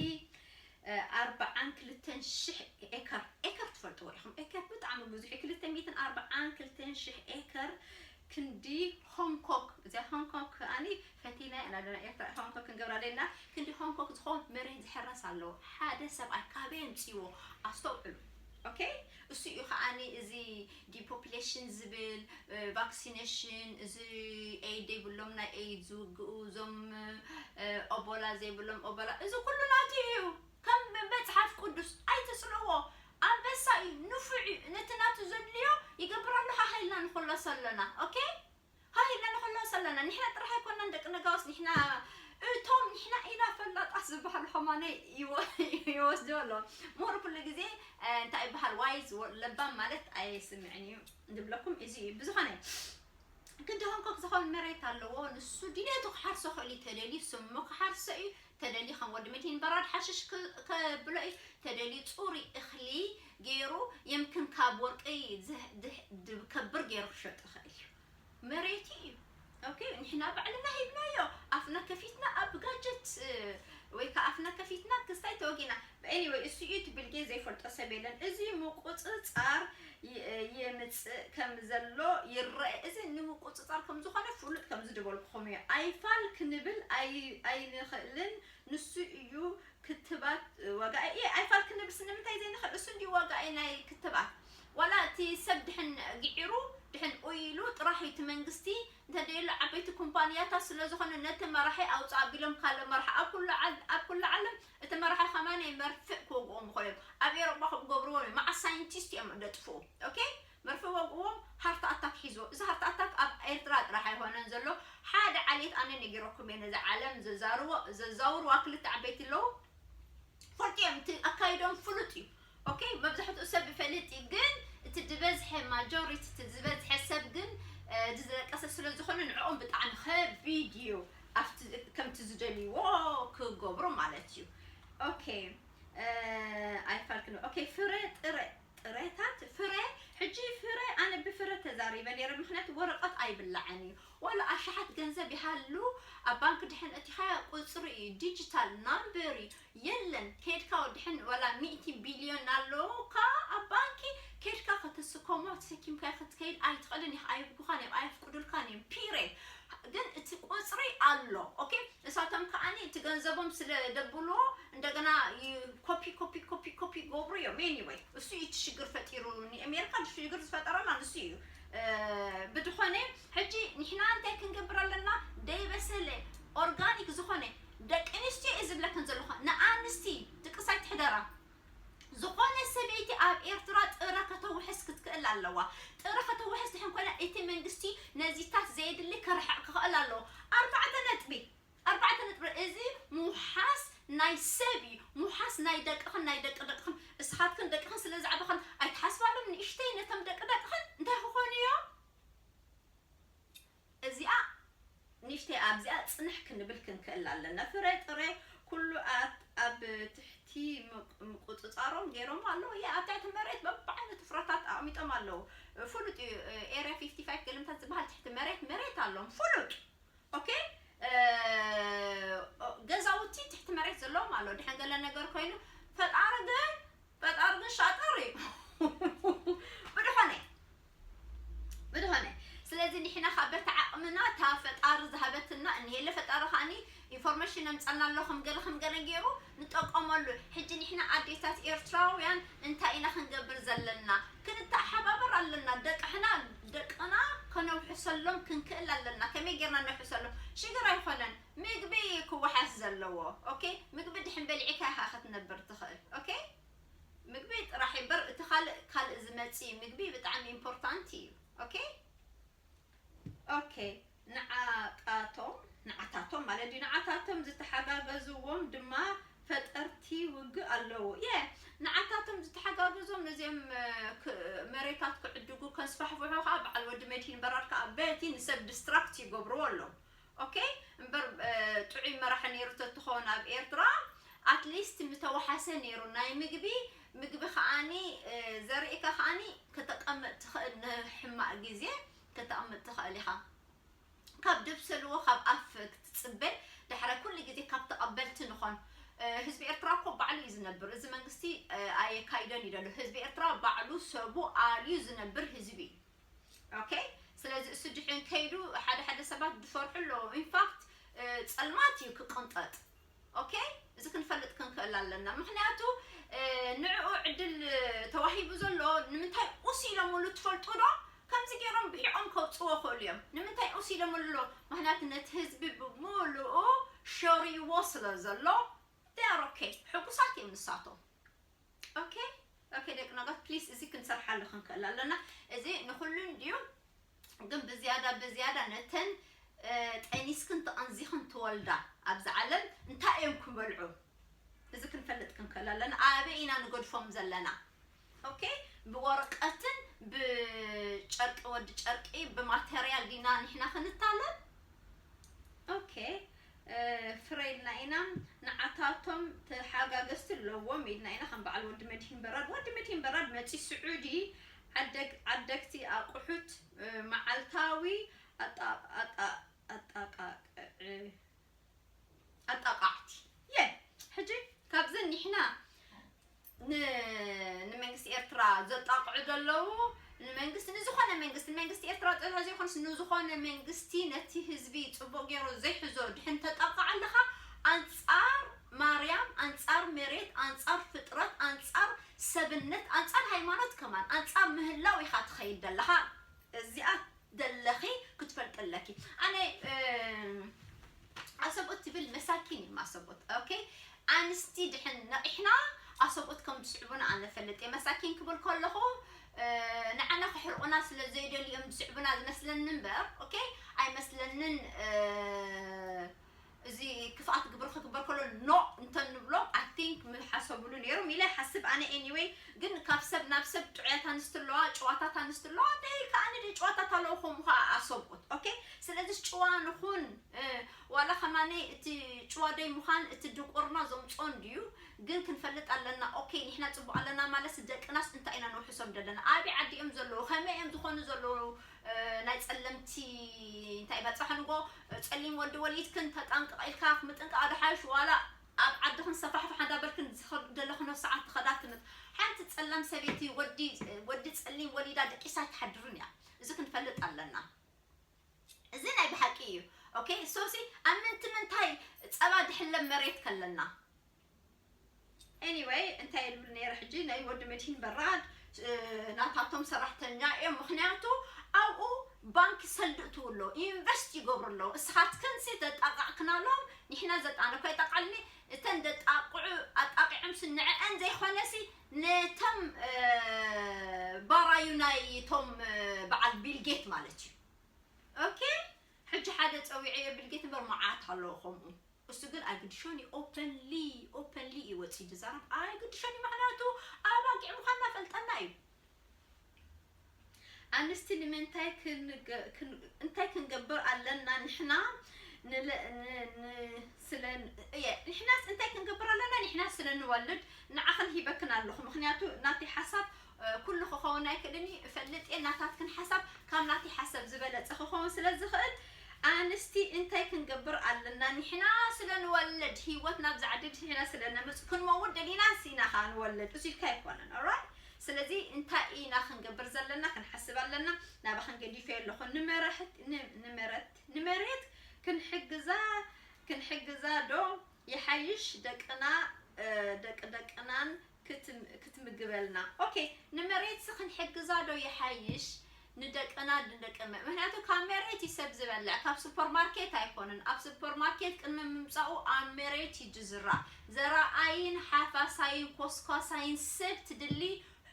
ኣርባዓን ክልተን ሽሕ ኤከር ኤከር ትፈልጥዎ ኢኹም ኤከር ብጣዕሚ ብዙሕ ክልተ ሚእትን ኣርባዓን ክልተን ሽሕ ኤከር ክንዲ ሆንግ ኮክ እዚኣ ሆንግ ኮክ ከኣ ፈቲና ኢና ኣለና ኤርትራ ሆንግ ኮክ ክንገብራ ደሊና ክንዲ ሆንግ ኮክ ዝኮን መሬት ዝሕረስ ኣሎ ሓደ ሰብኣይ ካበይ ኣምጺዎ ኣስተውዕሉ ኦኬ እሱ እዩ ከኣ እዚ ዲፖፕሌሽን ዝብል ቫክሲነሽን እዚ ኤይ ዘይብሎም ናይ ኤይ ዝውግኡ እዞም ኦቦላ ዘይብሎም ኦቦላ እዚ ኩሉ ናቱ እዩ ከም መጽሓፍ ቅዱስ ኣይትጽልዎ ኣንበሳ እዩ ንፉዕ እዩ ነቲ ናቱ ዘድልዮ ይገብር ኣሎ ሃህ ኢልና ንክሎሶ ኣሎና ok ሃህ ኢልና ንክሎሶ ኣሎና ንሕና ጥራህ ኣይኮናን ደቂ ነጋውስ ንሕና እቶም ንሕና ኢና ፈላጣት ዝባሃሉ ከማነይ ይወስድዎ ኣሎ ምሁር ኩሉ ግዜ እንታይ ይባሃል ዋይዝ ለባም ማለት ኣይስምዕን እዩ ዝብለኩም እዚ እዩ ብዝኾነ ክንዲ ሆንኮክ ዝኾን መሬት ኣለዎ ንሱ ድሌቱ ክሓርሶ ክእል እዩ ተደልዩ ስሙ ክሓርሶ እዩ ተደልዩ ከም ወዲ ምድሂን በራድ ሓሽሽ ከብሎ እዩ ተደልዩ ጹሩይ እክሊ ገይሩ የምክን ካብ ወርቂ ከብር ገይሩ ክሸጦ ይክእል እዩ መሬቱ እዩ ኦኬ ንሕና ባዕልና ሂብናዮ ኣፍና ከፊትና ኣብ ጋጀት ወይ ከዓ ኣፍና ከፊትና ክስታይ ተወጊና ኤኒወይ እሱ እዩ ትብልጌ ዘይፈልጦ ሰብ የለን እዚ ምቁፅፃር የምጽእ ከም ዘሎ ይረኤ። እዚ ንምቁጽጻር ከም ዝኾነ ፍሉጥ ከምዚ ድበልኩኹም እየ ኣይፋል ክንብል ኣይንኽእልን ንሱ እዩ ክትባት ዋጋ እየ ኣይፋል ክንብልስ ንምንታይ ዘይንኽእል እሱ እንድዩ ዋጋ እየ ናይ ክትባት ዋላ እቲ ሰብ ድሕን ግዒሩ ድሕን ኡይ ኢሉ ጥራሕ እዩ እቲ መንግስቲ እንተደየሎ ዓበይቲ ኩምፓንያታት ስለዝኾነ ነቲ መራሒ ኣውጽእ ኣቢሎም ካልእ መራሒ ኣብ ኩሉ ዓል ኣብ ኩሉ ዓለም እቲ መራሒ ከማኔ መርፍእ ክወግእዎም ምኮዮም ኣብ ኤሮጳ ከምኡ ገብርዎም እዮም ማዓስ ሳይንቲስት እዮም ደጥፍኡ ኦኬ መርፍእ ወግእዎም ሃርት ኣታክ ሒዝዎ እዚ ሃርት ኣታክ ኣብ ኤርትራ ጥራሕ ኣይኮነን ዘሎ ሓደ ዓሌት ኣነ ነጊረኩም እየ ነዛ ዓለም ዘዛርዎ ዘዛውርዋ ክልተ ዓበይቲ ኣለዉ ፈልጡ እዮም እቲ ኣካይድኦም ፍሉጥ እዩ ኦኬ መብዛሕትኡ ሰብ ይፈልጥ እዩ ግን እቲ ዝበዝሐ ማጆሪቲ እቲ ዝበዝሐ ሰብ ግን እዚ ዝረቀሰ ስለ ዝኾነ ንዕኦም ብጣዕሚ ከቪድዩ ኣብቲ ከምቲ ዝደልይዎ ክገብሩ ማለት እዩ ኦኬ ኣይፋልክን ኦኬ ፍረ ጥረ ጥረታት ፍረ ሕጂ ፍረ ኣነ ብፍረ ተዛሪበ ነይረ ምክንያቱ ወረቀት ኣይብላዕን እዩ ዋላ ኣሽሓት ገንዘብ ይሃሉ ኣብ ባንክ ድሕን እቲኻ ቁፅሪ እዩ ዲጂታል ናምበር እዩ የለን ኬድካ ወድሕን ዋላ ሚእቲ ቢልዮን ኣሎውካ ኣብ ባንኪ ኬድካ ከተስከሞ ተሰኪምካዮ ክትከይድ ኣይትኽእልን ኢኻ ኣይብጉኻን እዮም ኣየፍቅዱልካን እዮም ፒሬድ ግን እቲ ቁጽሪ ኣሎ ኦኬ እሳቶም ከኣ እቲ ገንዘቦም ስለ ደብልዎ እንደገና ኮፒ ኮፒ ኮፒ ኮፒ ይገብሩ እዮም ኤኒወይ እሱ እዩ እቲ ሽግር ፈጢሩ ንኣሜሪካ ሽግር ዝፈጠረላ ንሱ እዩ ብድኾነ ሕጂ ንሕና እንታይ ክንገብር ኣለና ደይበሰለ ኦርጋኒክ ዝኾነ ደቂ ኣንስትዮ እየ ዝብለክን ዘለኩ ንኣንስቲ ድቅሳይ ትሕደራ ዝኮነ ሰበይቲ ኣብ ኤርትራ ጥረ ከተውሕስ ክትክእል ኣለዋ ጥረ ከተውሕስ ድሕን ኮይና እቲ መንግስቲ ነዚታት ዘየድሊ ከርሕቅ ክክእል ኣለዎ ኣርባዕተ ነጥቢ ኣርባዕተ ነጥቢ እዚ ምውሓስ ናይ ሰብ እዩ ምውሓስ ናይ ደቅክን ናይ ደቂ ደቅክን እስኻትክን ደቅክን ስለ ዝዓበክን ኣይትሓስባሎም ንእሽተይ ነቶም ደቂ ደቅክን እንታይ ክኾኑ እዮም እዚኣ ንእሽተይ ኣብዚኣ ጽንሕ ክንብል ክንክእል ኣለና። ፍረ ጥረ ኩሉ ኣብ ትሕቲ ምቁጽጻሮም ጌሮሞ ኣለዉ እየ ኣብ ትሕቲ መሬት በብዓይነቱ ፍረታት ኣቅሚጦም ኣለዉ ፍሉጥ እዩ ኤርያ ፊፍቲ ፋይፍ ገለምታት ዝበሃል ትሕቲ መሬት መሬት ኣሎም ፍሉጥ ኦኬ ገዛውቲ ትሕቲ መሬት ዘለዎም ኣለዉ ድሕን ገለ ነገር ኮይኑ ፈጣሪ ግን ፈጣሪ ግን ሻጥር እዩ ብድሖነ ብዝኾነ ስለዚ ንሕና ከኣ በቲ ዓቕምና እታ ፈጣሪ ዝሃበትና እንሄለ ፈጣሪ ከኣኒ ኢንፎርመሽን ኣምጻልና ኣሎ ከም ገለ ከም ገለ ጌሩ ንጠቀመሉ ሕጂ ንሕና ኣዴታት ኤርትራውያን እንታይ ኢና ክንገብር ዘለና ክንተሓባበር ኣለና ደቅሕና ደቅና ከነውሕሰሎም ክንክእል ኣለና ከመይ ጌርና ነውሕሰሎም ሽግር ኣይኮነን ምግቢ ክወሓስ ዘለዎ ኦኬ ምግቢ ድሕን በሊዕካ ኢኻ ክትነብር ትኽእል ኦኬ ምግቢ ጥራሕ እበር እቲ ካልእ ካልእ ዝመጺ ምግቢ ብጣዕሚ ኢምፖርታንት እዩ ኦኬ ኦኬ ንዓታቶም ንዓታቶም ማለት ድዩ ንዓታቶም ዝተሓጋገዝዎም ድማ ፈጠርቲ ውግእ ኣለዉ የ ንዓታቶም ዝተሓጋገዞም ነዚኦም መሬታት ክዕድጉ ከስፋሕፍሑ ከዓ በዓል ወዲ መድሂን በራድ ከዓ በቲ ንሰብ ዲስትራክት ይገብርዎ ኣለዉ ኦኬ እምበር ጥዑይ መራሒ ነይሩ ተትኾን ኣብ ኤርትራ ኣትሊስት ምተዋሓሰ ነይሩ ናይ ምግቢ ምግቢ ከዓኒ ዘሪእካ ከዓኒ ከተቀምጥ ትኽእል ንሕማቅ ግዜ ከተቅምጥ ትኽእል ኢኻ ካብ ደብሰልዎ ካብ ኣፍ ክትጽበ ዳሕራይ ኩሉ ግዜ ካብ ተቀበልቲ ንኾን ህዝቢ ኤርትራ እኮ ባዕሉ እዩ ዝነብር እዚ መንግስቲ ኣየካይደን እዩ ዘሎ ህዝቢ ኤርትራ ባዕሉ ሰቡ ኣልዩ ዝነብር ህዝቢ እዩ ኦከይ ስለዚ እሱ ድሕን ከይዱ ሓደ ሓደ ሰባት ድፈርሑ ኣለዎ ኢንፋክት ጸልማት እዩ ክቅንጠጥ ኦከይ እዚ ክንፈልጥ ክንክእል ኣለና ምክንያቱ ንዕኡ ዕድል ተዋሂቡ ዘሎ ንምንታይ ኡስ ኢሎምሉ ትፈልጡ ዶ ከምዚ ገይሮም ብሒቆም ከውፅዎ ክእሉ እዮም ንምንታይ ኡስ ኢሎምሉ ኣሎ ምክንያቱ ነቲ ህዝቢ ብምልኡ ሸሪዎ ስለ ዘሎ ኦከይ ሕጉሳት እዮም ንሳቶም ኦኬ ኦኬ ደቂ ኖጋት ፕሊስ እዚ ክንሰርሓሉ ክንክእል ኣለና እዚ ንኩሉ እንድዩ ግን ብዝያዳ ብዝያዳ ነተን ጠኒስክን ተቐንዚኽን ትወልዳ ኣብዚ ዓለም እንታይ እዮም ክበልዑ እዚ ክንፈልጥ ክንክእል ኣለና ኣበይ ኢና ንገድፎም ዘለና ኦኬ ብወረቀትን ብጨርቂ ወዲ ጨርቂ ብማተርያል ዲና ንሕና ክንታለል ኦኬ ፍረ ኢልና ኢና ንዓታቶም ተሓጋገዝቲ ኣለዎም ኢልና ኢና ከም በዓል ወዲ መድሂን በራድ ወዲ መድሂን በራድ መጺ ስዑዲ ዓደግ ዓደግቲ ኣቁሑት መዓልታዊ ኣጣቃቅዕ ኣጣቃዕቲ እየ ሕጂ ካብዚ ኒሕና ን ንመንግስቲ ኤርትራ ዘጣቕዑ ዘለዉ ንመንግስቲ ንዝኾነ መንግስቲ ንመንግስቲ ኤርትራ ጥራሕ ዘይኮነስ ንዝኾነ መንግስቲ ነቲ ህዝቢ ጽቡቕ ጌሩ ዘይሕዞ ድሕን ተጣቕዕ ኣለኻ ኣንጻር ማርያም ኣንጻር መሬት ኣንጻር ፍጥረት ኣንጻር ሰብነት ኣንጻር ሃይማኖት ከማን ኣንጻር ምህላው ኢኻ ትኸይድ ደለኻ እዚኣ ደለኺ ክትፈልጢ ኣለኪ ኣነ ኣሰብኡት ትብል መሳኪን እዩም ኣሰብኡት ኦኬ ኣንስቲ ድሕን ነቒሕና ኣሰብኡት ከም ዝስዕቡና ኣነ ፈልጥ እየ መሳኪን ክብል ከለኹ ንዓና ክሕርቑና ስለ ዘይደልዩ እዮም ዝስዕቡና ዝመስለኒ እምበር ኦኬ ኣይመስለንን እዚ ክፍኣት ግብሪ ክግበር ከሎ ኖእ እንተ ንብሎም ኣይ ቲንክ ምሓሰብሉ ኔሮም ኢለ ይሓስብ ኣነ ኤኒወይ ግን ካብ ሰብ ናብ ሰብ ጥዑያት ኣንስቲ ኣለዋ ጭዋታት ኣንስቲ ኣለዋ ደይ ከኣ ንደይ ጭዋታት ኣለዉ ከምኡ ከኣ ኣሰብኡት ኦኬ ስለዚስ ጭዋ ንኹን ዋላ ከማነይ እቲ ጭዋ ደይ ምዃን እቲ ድንቁርና ዘምጾ እንድዩ ግን ክንፈልጥ ኣለና ኦኬ ንሕና ጽቡቅ ኣለና ማለትስ ደቅናስ እንታይ ኢና ነውሕሶም ደለና ኣበይ ዓዲ እዮም ዘለዉ ከመይ እዮም ዝኾኑ ዘለዉ ናይ ጸለምቲ እንታይ በጻሕንዎ ጸሊም ወዲ ወሊድክን ተጠንቅቕ ኢልካ ምጥንቃቕ ዶ ሓይሽ ዋላ ኣብ ዓድኽን ሰፋሕፋሕ እንዳበልክን ዘለኽኖ ሰዓት ትኸዳ ትምት ሓንቲ ጸላም ሰበይቲ ወዲ ወዲ ጸሊም ወሊዳ ደቂሳ ኣይትሓድርን እያ እዚ ክንፈልጥ ኣለና እዚ ናይ ብሓቂ እዩ ኦኬ ሶሲ ኣብ ምንቲ ምንታይ ጸባ ድሕለብ መሬት ከለና Anyway እንታይ እየ ዝብል ነይረ ሕጂ ናይ ወዲ መድሂን በራድ ናታቶም ሰራሕተኛ እዮም ምክንያቱ ኣብኡ ባንኪ ሰልዲ እትው ኣሎ ኢንቨስት ይገብሩ ኣለዉ እስኻትክንሲ ዘጣቃዕክና ኣሎም ንሕና ዘጣነ እኳ ይጠቃልኒ እተን ዘጣቅዑ ኣጣቂዖምሲ ንዕአን ዘይኮነሲ ነቶም ባራዩ ናይቶም በዓል ቢልጌት ማለት እዩ ኦኬ ሕጂ ሓደ ፀዊዐዮ ቢልጌት እምበር መዓት ኣለዎ ከምኡ እሱ ግን ኣይግድሾን እዩ ኦፐንሊ ኦፐንሊ እዩ ወጺኡ ዝዛረብ ኣይግድሾን እዩ ምክንያቱ ኣባጊዕ ምኳንና ፈልጠና እዩ ኣንስቲ ንምንታይ እንታይ ክንገብር ኣለና ንሕና ስለ ንሕናስ እንታይ ክንገብር ኣለና ንሕና ስለ ንወልድ ንዓኽን ሂበክን ኣለኹ ምክንያቱ ናተይ ሓሳብ ኩሉ ክኸውን ኣይክእልን እዩ እፈልጥ እየ ናታትክን ሓሳብ ካብ ናተይ ሓሰብ ዝበለጸ ክኸውን ስለ ዝኽእል ኣንስቲ እንታይ ክንገብር ኣለና ኒሕና ስለ ንወልድ ሂወት ናብዛ ዓዲ ዲሕና ስለ ነምጽ ክንመውት ደሊናስ ኢና ከኣ ንወልድ እሱ ኢልካ ኣይኮነን ኦራይት ስለዚ እንታይ ኢና ክንገብር ዘለና ክንሓስብ ኣለና ናባኽን ገዲፈ ኣለኹ ንመራሕት ንመረት ንመሬት ክንሕግዛ ክንሕግዛ ዶ ይሓይሽ ደቅና ደቂ ደቅናን ክትምግበልና ኦኬ ንመሬትሲ ክንሕግዛ ዶ ይሓይሽ ንደቅና ንደቂ ምክንያቱ ካብ መሬት እዩ ሰብ ዝበልዕ ካብ ሱፐር ማርኬት ኣይኮነን ኣብ ሱፐር ማርኬት ቅድሚ ምምጻኡ ኣብ መሬት እዩ ዝዝራእ ዘራኣይን ሓፋሳይን ኮስኳሳይን ሰብ ትድሊ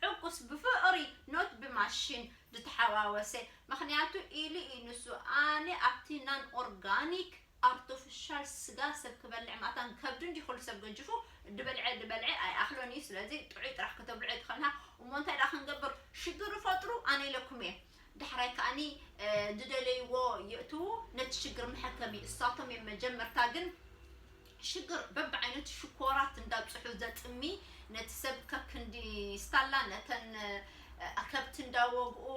ሕጉስ ብፍቕሪ ኖት ብማሽን ዝተሓዋወሰ ምክንያቱ ኢሉ እዩ ንሱ ኣነ ኣብቲ ናን ኦርጋኒክ ኣርቶፍሻል ስጋ ሰብ ክበልዕ ማታን ከብድን ድዩ ኩሉ ሰብ ገጅፉ ድበልዐ ድበልዐ ኣይኣክሎን እዩ ስለዚ ጥዑይ ጥራሕ ክተብልዑ ኣይትክእልንሃ እሞ እንታይ ድኣ ክንገብር ሽግር ፈጥሩ ኣነ ኢለኩም እየ ዳሕራይ ከኣኒ ድደለይዎ የእትዉ ነቲ ሽግር መሐከሚ እሳቶም እዮም መጀመርታ ግን ሽግር በብዓይነቱ ሽኮራት እንዳብጽሑ ዘጽሚ ነቲ ሰብ ከክንዲ ስታላ ነተን ከብቲ እንዳወግኡ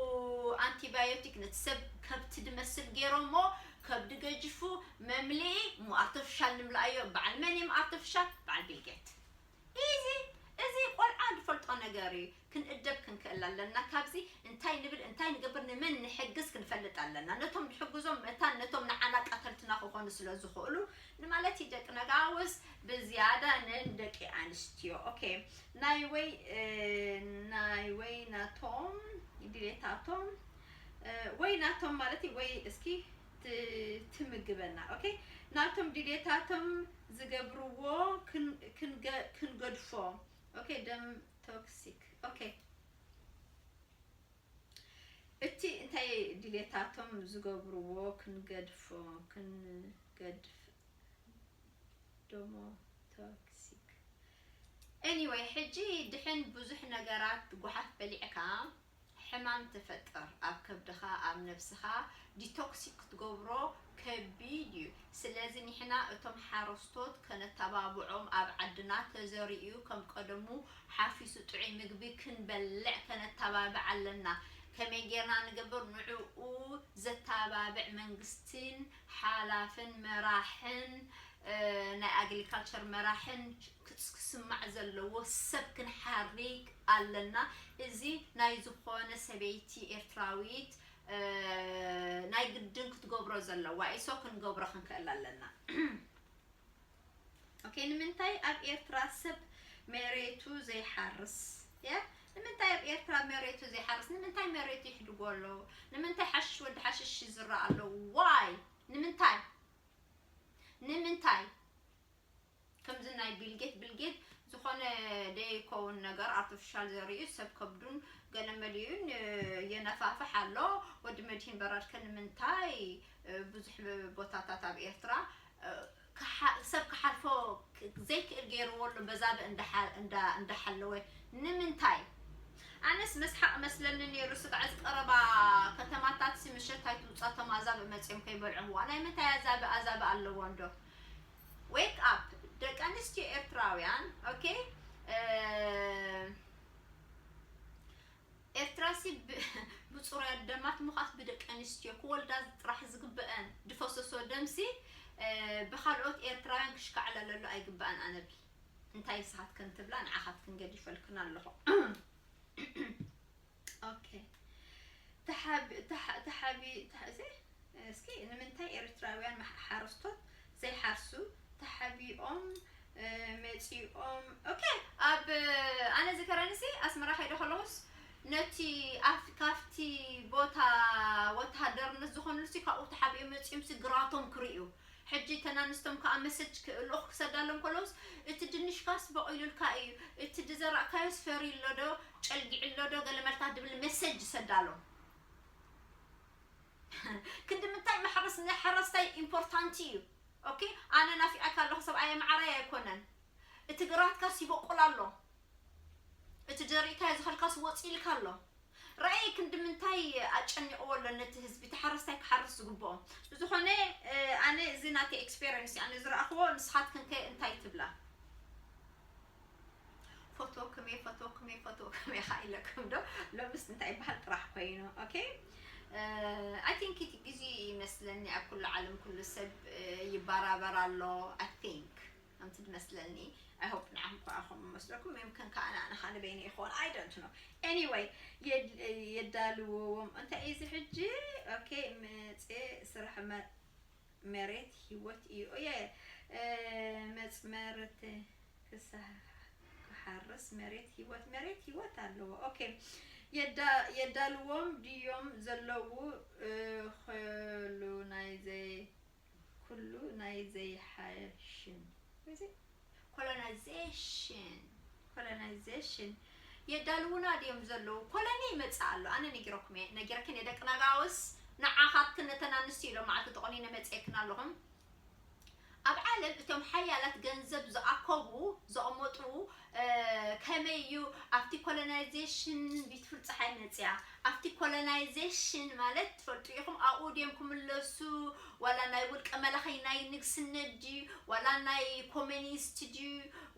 ኣንቲባዮቲክ ነቲ ሰብ ከብቲ ድመስል ገይሮሞ ከብዲ ገጅፉ መምልኢ እሞ ኣርተፍሻል ንምልኣዮ በዓል መን እዩም ኣርተፍሻል በዓል ቢልጌት ኢዚ እዚ ቆልዓ ድፈልጦ ነገር እዩ ክንእደብ ክንክእል ኣለና ካብዚ እንታይ ንብል እንታይ ንገብር ንመን ንሕግዝ ክንፈልጥ ኣለና ነቶም ድሕግዞም መታን ነቶም ንዓና ቀተልትና ክኾኑ ስለ ዝኽእሉ ንማለት እዩ ደቂ ነጋውስ ብዝያዳ ነን ደቂ ኣንስትዮ ኦኬ ናይ ወይ ናይ ወይ ናቶም ድሌታቶም ወይ ናቶም ማለት እዩ ወይ እስኪ ትምግበና ኦኬ ናቶም ድሌታቶም ዝገብርዎ ክንገድፎ ኦኬ ደም ቶክሲክ ኦኬ እቲ እንታይ ድሌታቶም ዝገብርዎ ክንገድፎ ክንገድፍ ደሞ ቶክሲክ ኤኒዌይ ሕጂ ድሕን ብዙሕ ነገራት ጓሓፍ በሊዕካ ሕማም ትፈጥር ኣብ ከብድኻ ኣብ ነብስኻ ዲቶክሲ ክትገብሮ ከቢድ እዩ ስለዚ ኒሕና እቶም ሓረስቶት ከነታባብዖም ኣብ ዓድና ተዘሪኡ ከም ቀደሙ ሓፊሱ ጥዑይ ምግቢ ክንበልዕ ከነታባብዕ ኣለና ከመይ ጌርና ንገብር ንዑኡ ዘታባብዕ መንግስቲን ሓላፍን መራሕን ናይ ኣግሊካልቸር መራሕን ክስ ክስማዕ ዘለዎ ሰብ ክንሓሪግ ኣለና እዚ ናይ ዝኾነ ሰበይቲ ኤርትራዊት ናይ ግድን ክትገብሮ ዘለዋ እዩ so ክንገብሮ ክንክእል ኣለና ኦኬ ንምንታይ ኣብ ኤርትራ ሰብ መሬቱ ዘይሓርስ ያ ንምንታይ ኣብ ኤርትራ መሬቱ ዘይሓርስ ንምንታይ መሬቱ ይሕድጎ ኣሎ ንምንታይ ሓሽሽ ወዲ ሓሽሽ ይዝራእ ኣሎ ዋይ ንምንታይ ንምንታይ ከምዚ ናይ ቢልጌት ብልጌት ዝኾነ ደይኮውን ነገር ኣርተፍሻል ዘሪኡ ሰብ ከብዱን ገለ መሊኡን የነፋፍሕ ኣሎ ወዲ መድሂን በራድ ከ ንምንታይ ብዙሕ ቦታታት ኣብ ኤርትራ ሰብ ክሓልፎ ዘይክእል ገይርዎ ኣሎ በዛበ እንዳሓለወ ንምንታይ ኣነስ መስሓቅ መስለኒ ነይሩ ስጋዕ ዝቀረባ ከተማታት ምሸት ኣይትውፃ ቶም ኣዛብእ መፅኦም ከይበልዑዋ ናይ ምንታይ ኣዛብእ ኣዛብእ ኣለዎ እንዶ Wake up ደቂ ኣንስትዮ ኤርትራውያን ኦኬ ኤርትራሲ ብፁሩያት ደማት ምዃስ ብደቂ ኣንስትዮ ክወልዳ ጥራሕ ዝግበአን ድፈሰሶ ደምሲ ብካልኦት ኤርትራውያን ክሽካዕለለሉ ኣይግበኣን ኣነቢ እንታይ ንስኻትክን ትብላ ንዓኻትክን ገዲፈልክን ኣለኹ ኦኬ ተሓቢ ተሓ ተሓቢ ተሓ እዚ እስኪ ንምንታይ ኤርትራውያን መሓ- ሓረስቶት ዘይሓርሱ ተሓቢኦም እ፣ መጺኦም ኦኬ ኣብ ኣነ ዝከረንሲ ኣስመራ ከይደ ከለኹስ ነቲ ኣፍ ካፍቲ ቦታ ወተሃደርነት ዝኾኑልሲ ካብኡ ተሓቢኦም መጺኦምሲ ግራቶም ክርእዩ ሕጂ እተን ኣንስቶም ከኣ መሰጅ ክእልኡኽ ክሰዳሎም ከለውስ እቲ ድንሽካስ በቂሉልካ እዩ እቲ ድዘራእካዮስ ፈርዩ ኣሎ ዶ ጨልጊዑ ኣሎ ዶ ገለ መልካ ድብል መሰጅ ይሰዳሎም ክንዲ ምንታይ ማሕረስ ንሓረስታይ ኢምፖርታንቲ እዩ ኦኬ ኣነ ናፊቀካ ኣለኹ ሰብኣየ መዓረይ ኣይኮነን እቲ ግራትካስ ይበቁል ኣሎ እቲ ዘሪእካዮ ዝኸልካስ ወጺኢልካ ኣሎ ራኢ ክንዲ ምንታይ ኣጨኒቅዎ ኣሎ ነቲ ህዝቢ እቲ ሓረስታይ ክሓርስ ዝግብኦ። ብዝኮነ ኣነ እዚ ናተይ ኤክስፔረንስ እዩ ኣነ ዝረኣክዎ ንስካትክን ከ እንታይ ትብላ። ፈትወኩም እየ ፈትወኩም እየ ፈትወኩም እየ ከኣ ኢለኩም ዶ ሎምስ እንታይ ይበሃል ጥራሕ ኮይኑ ኦኬ ኣይ ቲንክ እቲ ግዜ ይመስለኒ ኣብ ኩሉ ዓለም ኩሉ ሰብ ይበራበር ኣሎ ኣይ ቲንክ ከምቲ ድመስለኒ ኣይ ሆፕ ንዓኹም ክኣ ከምኡ ይመስለኩም የምክን ክኣ ንዓኻ ንበይነይ ይኾን ኣይ ዶንት ኖው ኤኒወይ የዳልዎዎም እንታይ እዩ እዚ ሕጂ ኦኬ መጽ ስራሕ መሬት ሂወት እዩ ኦየ መጽመርት ክሳህ ክሓርስ መሬት ሂወት መሬት ሂወት ኣለዎ ኦኬ የዳልዎም ድዮም ዘለዉ ኸሉ ናይ ዘይ ኩሉ ናይ ዘይሓሽን እዚ ኮሎናይዜሽን ኮሎናይዜሽን የዳልዉና ድዮም ዘለዉ ኮሎኒ ይመጽእ ኣሎ ኣነ ነጊረኩም እየ ነጊረክን እየ ደቂ ነጋውስ ንዓኻትክን ነተን ኣንስትዮ ሎማዓልቲ ተቆኒነ መጽኤክን ኣለኹም ኣብ ዓለም እቶም ሓያላት ገንዘብ ዝኣከቡ ዘቕመጡ ከመይ እዩ ኣብቲ ኮሎናይዜሽን ቢትፉል ጸሓይ መጽያ ኣብቲ ኮሎናይዜሽን ማለት ትፈልጡ ኢኹም ኣብኡ ድዮም ክምለሱ ዋላ ናይ ውልቀ መላኺ ናይ ንግስነት ድዩ ዋላ ናይ ኮሚኒስት ድዩ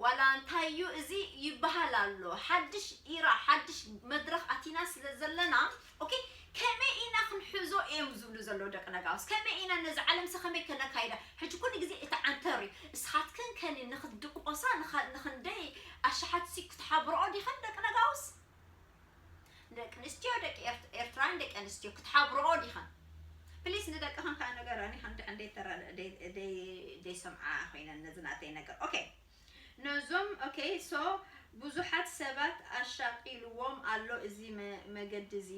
ዋላ እንታይ እዩ እዚ ይበሃል ኣሎ ሓድሽ ኢራ ሓድሽ መድረኽ ኣቲና ስለ ዘለና ኦኬ ከመይ ኢና ክንሕዞ እዮም ዝብሉ ዘለዉ ደቂ ነጋውስ ከመይ ኢና ነዚ ዓለምሰ ከመይ ከነካይዳ ሕጂ ኩሉ ግዜ እቲ ዓንተር እዩ እስኻትክን ከኒ ንክትድቆሳ ንክንደይ ኣሽሓት ሲ ክትሓብርኦ ዲኸን ደቂ ነጋውስ ደቂ ኣንስትዮ ደቂ ኤርትራን ደቂ ኣንስትዮ ክትሓብርኦ ዲኸን ፕሊስ ንደቅኸን ከዓ ነገረን ይኸን ድሕን ደይተረደ ደይሰምዓ ኮይነን ነዚ ናተይ ነገር ኦኬ ነዞም ok so ብዙሓት ሰባት ኣሻቂልዎም ኣሎ እዚ መገዲ እዚ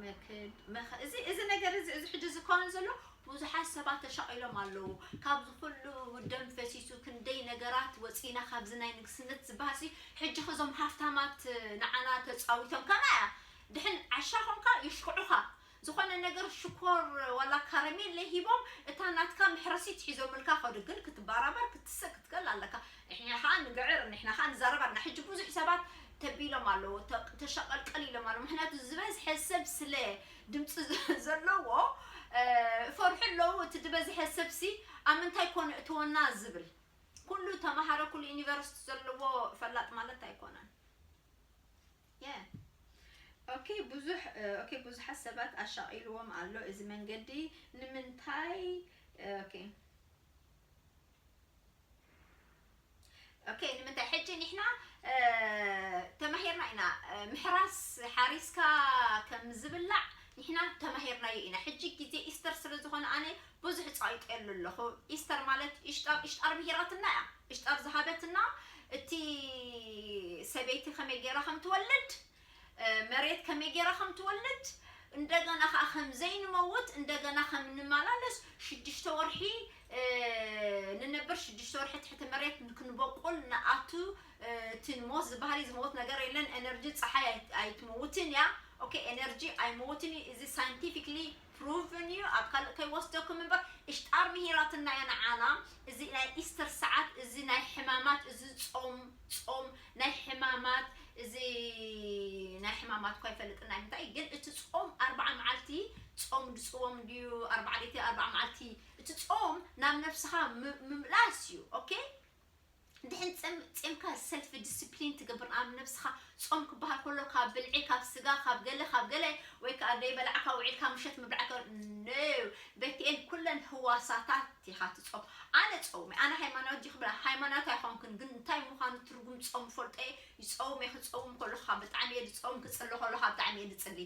መክድ እዚ እዚ ነገር እዚ እዚ ሕጂ ዝከውን ዘሎ ብዙሓት ሰባት ተሻቂሎም ኣለዉ ካብዚ ኩሉ ደም ፈሲሱ ክንደይ ነገራት ወጺና ካብዚ ናይ ንግስነት ዝበሃሲ ሕጂ ከዞም ሃፍታማት ንዓና ተጻዊቶም ከማያ ድሕን ዓሻ ኮንካ ይሽክዑኻ ዝኾነ ነገር ሽኮር ዋላ ካረሜለ ሂቦም እታ ናትካ መሕረሲት ሒዞምልካ ከዱ ግን ክትባራበር ክትስእ ክትክእል ኣለካ ንሕና ከኣ ንግዕር ንሕና ከኣ ንዛረብ ኣና ሕጂ ብዙሕ ሰባት ተቢሎም ኣለዉ ተሸቀልቀል ኢሎም ኣለዉ ምክንያቱ ዝበዝሐ ሰብ ስለ ድምጺ ዘለዎ ይፈርሑ ኣለዉ እቲ ድበዝሐ ሰብሲ ኣብ ምንታይ ኮን የእትወና ዝብል ኩሉ ተማሃረ ኩሉ ዩኒቨርስቲ ዘለዎ ፈላጥ ማለት ኣይኮነን Yeah ok ብዙሕ ok ብዙሓት ሰባት ኣሻቒልዎም ኣሎ እዚ መንገዲ ንምንታይ ok ok ንምንታይ ሕጂ ንሕና ተማሂርና ኢና ምሕራስ ሓሪስካ ከም ዝብላዕ ንሕና ተማሂርናዮ ኢና ሕጂ ግዜ ኢስተር ስለ ዝኾነ ኣነ ብዙሕ ጻይጤሉ ኣለኹ ኢስተር ማለት ኢሽጣር ኢሽጣር ምሂራትና እያ ኢሽጣር ዝሃበትና እቲ ሰበይቲ ከመይ ጌራ ከም ትወልድ መሬት ከመይ ጌራ ከም ትወልድ እንደገና ከኣ ከም ዘይንመውት እንደገና ከም ንመላለስ ሽዱሽተ ወርሒ ንነብር ሽዱሽተ ወርሒ ትሕቲ መሬት ክንበቁል ንኣቱ እቲ ሞት ዝበሃል እዩ ዝመውት ነገር የለን ኤነርጂ ፀሓይ ኣይትመውትን እያ ኦኬ ኤነርጂ ኣይመውትን እዩ እዚ ሳይንቲፊክሊ Proven እዩ ኣብ ካልእ ከይወስደኩም እምበር እሽጣር ምሂራትና እያ ንዓና እዚ ናይ ኢስተር ሰዓት እዚ ናይ ሕማማት እዚ ጾም ጾም ናይ ሕማማት እዚ ናይ ሕማማት እኳ ኣይፈልጥን ናይ ምንታይ ግን እቲ ጾም ኣርብዓ መዓልቲ ጾም ድጽዎም እንድዩ ኣርብዓ ለይቲ ኣርብዓ መዓልቲ እቲ ጾም ናብ ነፍስኻ ምምላስ እዩ ኦኬ ድሕን ጸም ጼምካ ሰልፍ ድስፕሊን ትገብር ኣብ ነብስኻ ጾም ክበሃል ከሎ ካብ ብልዒ ካብ ስጋ ካብ ገለ ካብ ገለ ወይ ከኣ ደይበላዕካ ውዒልካ ምሸት ምብላዕ ከ no ቤትኤል ኩለን ህዋሳታት ኢኻ ትጾም ኣነ ጾውሚ ኣነ ሃይማናዊት ዲኺ ብላ ሃይማናዊት ኣይኾንክን ግን እንታይ ምዃኑ ትርጉም ጾም እፈልጦ እየ ይጸውም እየ ክትጸውም ከለኩ ከኣ ብጣዕሚ እየ ዝጸውም ክጽሊ ከለኩ ከኣ ብጣዕሚ እየ ዝጽሊ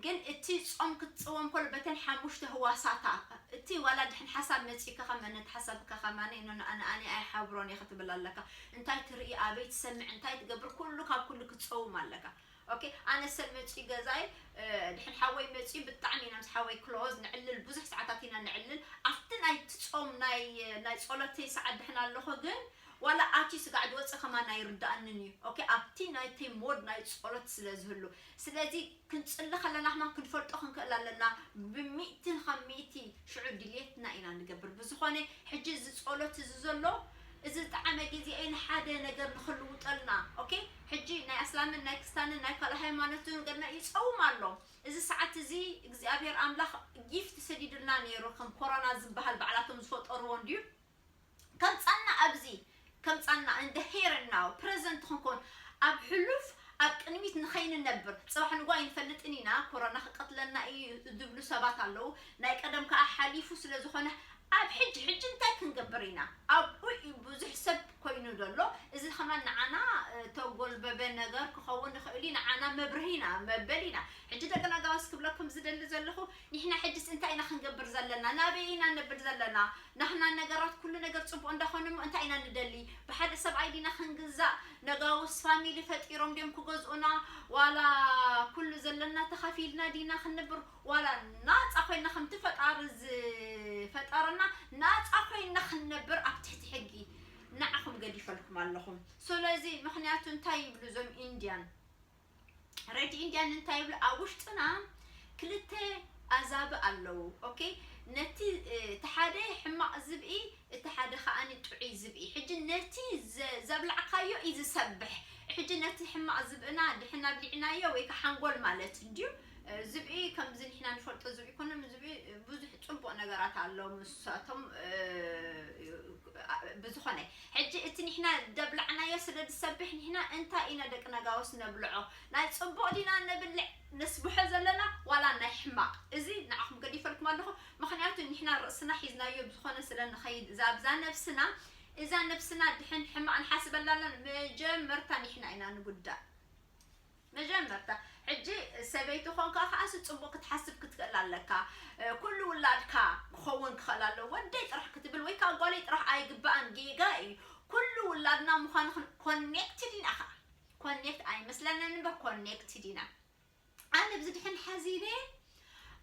ግን እቲ ጾም ክትጽወም ከሎ በተን ሓሙሽተ ህዋሳታ እቲ ዋላ ድሕን ሓሳብ መጺኡካ ከመ ነቲ ሓሳብ ከከማኒ ንኣኒ ኣይሓብሮን እየ ክትብል ኣለካ እንታይ ትርኢ ኣበይ ትሰምዕ እንታይ ትገብር ኩሉ ካብ ኩሉ ክትጸውም ኣለካ ኦኬ ኣነ ሰብ መጺኡ ገዛይ ድሕን ሓወይ መጺኡ ብጣዕሚ ኢና ምስ ሓወይ ክሎዝ ንዕልል ብዙሕ ሰዓታት ኢና ንዕልል ኣብቲ ናይ ትጾም ናይ ናይ ጸሎተይ ሰዓት ድሕን ኣለኹ ግን ዋላ ኣቲ ስጋዕ ዝወጸ ከማን ኣይርዳኣንን እዩ ኦኬ ኣብቲ ናይቲ ሞድ ናይ ጾሎት ስለ ዝህሉ ስለዚ ክንጽሊ ከለና ከማን ክንፈልጦ ክንክእል ኣለና ብሚእቲ ካብ ሚእቲ ሽዑ ድልየትና ኢና ንገብር ብዝኮነ ሕጂ እዚ ጾሎት እዚ ዘሎ እዚ ዝጠዓመ ግዜ እዩ ንሓደ ነገር ንክልውጠልና ኦኬ ሕጂ ናይ ኣስላምን ናይ ክስታንን ናይ ካልእ ሃይማኖትን ገና ይጸውም ኣሎ እዚ ሰዓት እዚ እግዚኣብሄር ኣምላኽ ጊፍት ሰዲድልና ኔሩ ከም ኮሮና ዝበሃል ባዕላቶም ዝፈጠርዎ እንድዩ ከምጻና ኣብዚ ከምጻና in the here and now present ክንኮን ኣብ ሕሉፍ ኣብ ቅድሚት ንኸይንነብር ጽባሕ ንግሆ ኣይንፈልጥን ኢና ኮሮና ክቀትለና ኢዩ ዝብሉ ሰባት ኣለዉ ናይ ቀደም ከኣ ሓሊፉ ስለ ዝኾነ ኣብ ሕጂ ሕጂ እንታይ ክንገብር ኢና ኣብኡ ኢዩ ብዙሕ ሰብ ኮይኑ ዘሎ እዚ ከማን ንዓና ተጎልበበ ነገር ክኸውን ይኽእል ኢዩ ንዓና መብርሂ ኢና መበል ኢና ሕጂ ደቂ ናጋውስ ክብለኩም ዝደሊ ዘለኹ ኒሕና ሕጅስ እንታይ ኢና ክንገብር ዘለና ናበይ ኢና ነብል ዘለና ናህና ነገራት ኩሉ ነገር ጽቡቅ እንዳኾነ እሞ እንታይ ኢና ንደሊ ብሓደ ሰብኣይ ዲና ክንግዛእ ነጋውስ ፋሚሊ ፈጢሮም ድዮም ክገዝኡና ዋላ ኩሉ ዘለና ተኻፊልና ዲና ክንብር ዋላ ናጻ ኮይና ከምቲ ፈጣሪ ዝፈጠረና ናጻ ኮይና ክንነብር ኣብ ትሕቲ ሕጊ ንዓኹም ገዲፈልኩም ኣለኹም ስለዚ ምክንያቱ እንታይ ይብሉ እዞም ኢንድያን ረድ ኢንድያን እንታይ ይብሉ ኣብ ውሽጥና ክልተ ኣዛብእ ኣለዉ ኦኬ ነቲ እቲ ሓደ ሕማቕ ዝብኢ እቲ ሓደ ከኣ ጥዑይ ዝብኢ ሕጂ ነቲ ዘብላዕካዮ እዩ ዝሰብሕ ሕጂ ነቲ ሕማቕ ዝብእና ድሕና ኣብሊዕናዮ ወይ ከሓንጎል ማለት እንድዩ ዝብኢ ከምዚ ንሕና ንፈልጦ ዝብኢ ኣይኮነን ዝብኢ ብዙሕ ጽቡቅ ነገራት ኣሎ ምሳቶም ብዝኾነ ሕጂ እቲ ንሕና ደብላዕናዮ ስለ ዝሰብሕ ንሕና እንታይ ኢና ደቂ ነጋውስ ነብልዖ ናይ ጽቡቅ ዲና ነብልዕ ነስብሖ ዘለና ዋላ ናይ ሕማቅ እዚ ንዓኹም ገዲፈልኩም ኣለኹ ምክንያቱ ንሕና ርእስና ሒዝናዮ ብዝኾነ ስለ ንኸይድ እዛ ኣብዛ ነብስና እዛ ነብስና ድሕን ሕማቅ ንሓስበላ ኣለና መጀመርታ ንሕና ኢና ንጉዳእ መጀመርታ ሕጂ ሰበይቲ ኮንካ ከኣስ ጽቡቅ ክትሓስብ ክትክእል ኣለካ ኩሉ ውላድካ ክከውን ክክእል ኣለዎ ወደይ ጥራሕ ክትብል ወይ ከኣ ጓለይ ጥራሕ ኣይግባኣን ጌጋ ኢዩ ኩሉ ውላድና ምኳኑ ክን ኮኔክትድ ኢና ከኣ ኮኔክት ኣይመስለንን እምበር ኮኔክትድ ኢና ኣነ ብዚ ድሕን ሓዚለ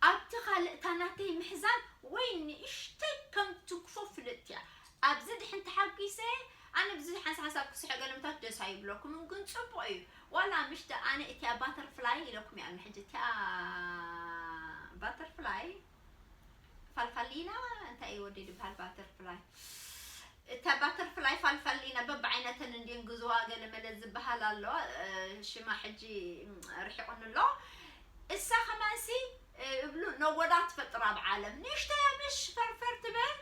ኣብቲ ካልእ እታ ናተይ ምሕዛን ወይ ንእሽተይ ከም ትግፎ ፍልጥቲ እያ ኣብዚ ድሕን ተሓጊሰ ኣነ ብዙሕ ሓንሳ ሓንሳብ ክስሕቅ ገለምታት ደስ ኣይብለኩምን ግን ጽቡቅ እዩ ዋላ ምሽ ዳኣ ኣነ እቲኣ ባተርፍላይ ኢለኩም እያ ኣሎ ሕጂ እቲኣ ባተርፍላይ ፋልፋሊና እንታይ እዩ ወዲ ድብሃል ባተርፍላይ እታ ባተርፍላይ ፋልፋሊና በብዓይነተን እንድየን ግዝዋ ገለመለ ዝበሃል ኣሎ ሽማ ሕጂ ርሒቑኒ ኣሎ እሳ ከማንሲ እብሉ ነጎዳ ትፈጥር ኣብ ዓለም ንእሽተይ ምሽ ፈርፈር ትበል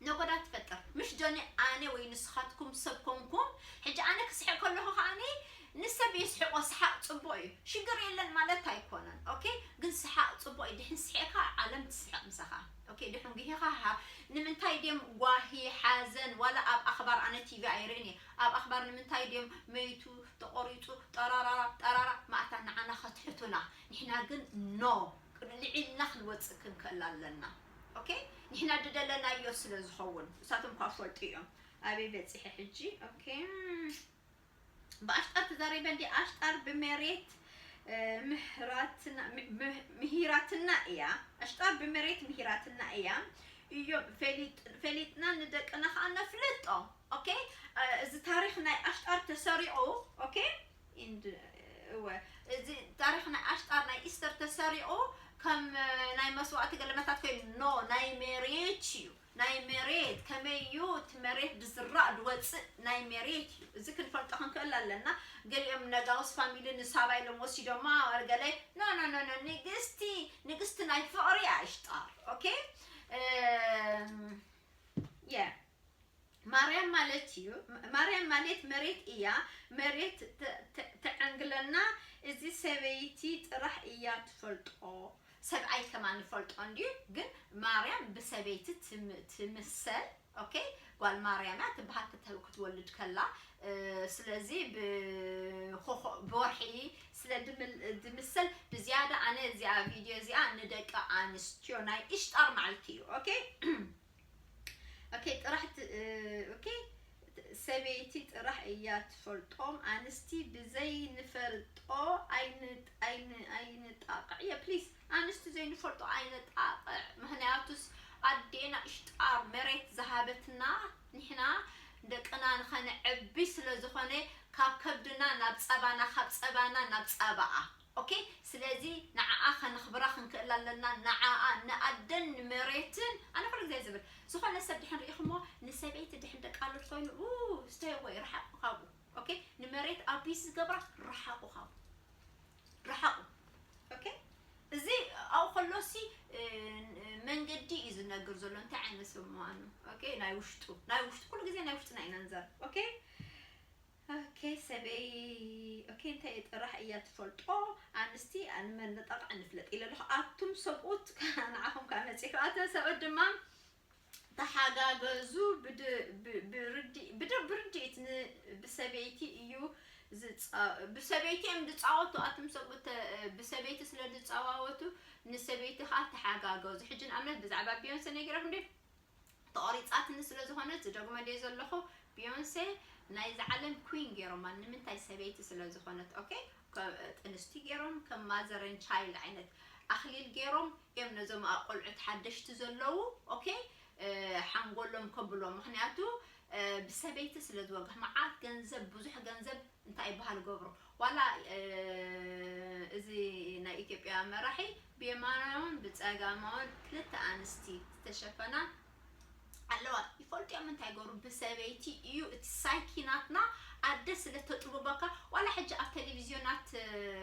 ነጎዳ ትፈጥር ምሽ ጆኒ ኣነ ወይ ንስካትኩም ሰብ ኮንኩም ሕጂ ኣነ ክስሕቅ ከለኩ ከኣኒ ንሰብ የስሕቆ ስሓቅ ጽቡቅ እዩ ሽግር የለን ማለት ኣይኮነን ኦኬ ግን ስሓቅ ጽቡቅ እዩ ድሕን ስሒቅካ ዓለም ትስሕቅ ምሳካ ኦኬ ድሕን ጉሂካ ሃ ንምንታይ ድም ጓሂ ሓዘን ዋላ ኣብ ኣክባር ኣነ ቲቪ ኣይርእን እየ ኣብ ኣክባር ንምንታይ ድም መይቱ ተቆሪጹ ጠራራራ ጠራራ ማእታ ንዓና ከትሕቱና ንሕና ግን ኖ ቅልዒልና ክንወጽእ ክንክእል ኣለና ok ንሕና ድደለናዮ ስለ ዝኸውን ንሳቶም እኳ ክፈልጡ እዮም ኣበይ በጺሐ ሕጂ ok ብኣሽጣር ተዛሪበ እንዲ ኣሽጣር ብመሬት ምህራትና ምሂራትና እያ ኣሽጣር ብመሬት ምሂራትና እያ እዮም ፈሊጥና ንደቅና ከዓ ነፍልጦ ok እዚ ታሪክ ናይ ኣሽጣር ተሰሪቑ ok ኢንድ እወ እዚ ታሪኽ ናይ ኣሽጣር ናይ ኢስተር ተሰሪቑ ከም ናይ መስዋእቲ ገለመታት ኮይኑ ኖ ናይ ሜሬት እዩ ናይ ሜሬት ከመይ እዩ እቲ መሬት ድዝራእ ድወፅእ ናይ ሜሬት እዩ እዚ ክንፈልጦ ክንክእል ኣለና ገሊኦም ነጋውስ ፋሚሊ ንሳባ ኢሎም ወሲዶማ ገለ ኖ ኖ ኖ ኖ ንግስቲ ንግስቲ ናይ ፍቕሪ ኣሽጣር ኦኬ የ ማርያም ማለት እዩ ማርያም ማሌት መሬት እያ መሬት ተዐንግለና እዚ ሰበይቲ ጥራሕ እያ ትፈልጦ ሰብኣይ ከማን ይፈልጦ እንድዩ ግን ማርያም ብሰበይቲ ትምሰል ኦኬ ጓል ማርያም እያ ትበሃል ክትወልድ ከላ ስለዚ ብወርሒ ስለ ድምሰል ብዝያዳ ኣነ እዚኣ ቪድዮ እዚኣ ንደቂ ኣንስትዮ ናይ እሽጣር ማዓልቲ እዩ ኦኬ ኦኬ ጥራሕ ኦኬ ሰበይቲ ጥራሕ እያ ትፈልጦም ኣንስቲ ብዘይ ንፈልጦ ኣይንጣቕዕ እየ ፕሊስ ኣንስቲ ዘይንፈልጦ ኣይነጣቕዕ ምክንያቱስ ኣዴና እሽጣ መሬት ዝሃበትና ንሕና ደቅና ንኸነዕቢ ስለ ዝኾነ ካብ ከብድና ናብ ፀባና ካብ ፀባና ናብ ፀባኣ ኦኬ ስለዚ ንዓኣ ከነኽብራ ክንክእል ኣለና ንዓኣ ንኣደን ንመሬትን ኣነ ኩሉ ግዜ ዝብል ዝኾነ ሰብ ድሕን ርኢኹሞ ንሰበይቲ ድሕን ደቂ ኣሎት ኮይኑ ኡኡ stay away ርሓቁ ካብኡ ኦኬ ንመሬት ኣቢዩስ ዝገብራ ርሓቁ ካብኡ ርሓቁ ኦኬ እዚ ኣብኡ ከሎሲ መንገዲ እዩ ዝነግር ዘሎ እንታይ ዓይነት ሰብ ምዃኑ ኦኬ ናይ ውሽጡ ናይ ውሽጡ ኩሉ ግዜ ናይ ውሽጥና ኢና ንዛረብ ኦኬ ኦኬ ሰበይ ኦኬ እንታይ ጥራሕ እያ ትፈልጦ ኣንስቲ ኣን መነጠቅ ኣንፍለጥ ኢለ ኣለኩ ኣቱም ሰብኡት ካኣ ንዓኩም ካኣ መጺኩ ኣተን ሰብኡት ድማ ተሓጋገዙ ብርድኢት ን ብሰበይቲ እዩ ብሰበይቲ እዮም ድጻወቱ ኣቱም ሰብኡት ብሰበይቲ ስለ ድጻዋወቱ ንሰበይቲ ካኣ ተሓጋገዙ ሕጂ ንኣብነት ብዛዕባ ቢዮንሰ ነጊረኩም ድየ ተቆሪጻትኒ ስለ ዝኮነት ዝደግሞ ድየ ዘለኩ ቢዮንሴ ናይዛ ዓለም ኩዊን ጌሮማ ንምንታይ ሰበይቲ ስለ ዝኮነት ኦኬ ጥንስቲ ጌሮም ከም ማዘር ኤንድ ቻይልድ ዓይነት ኣክሊል ጌሮም እዮም ነዞም ቆልዑት ሓደሽቲ ዘለዉ ኦኬ ሓንጎሎም ከብሎ ምክንያቱ ብሰበይቲ ስለ ዝወግሕ መዓት ገንዘብ ብዙሕ ገንዘብ እንታይ ይበሃል ገብሩ ዋላ እዚ ናይ ኢትዮጵያ መራሒ ብየማናውን ብጸጋማውን ክልተ ኣንስቲ ዝተሸፈና ኣለዋ ይፈልጥዮም እንታይ ገሩ ብሰበይቲ እዩ እቲ ሳይኪ ናትና ኣደ ስለ ተጥብበካ ዋላ ሕጂ ኣብ ቴሌቪዝዮናት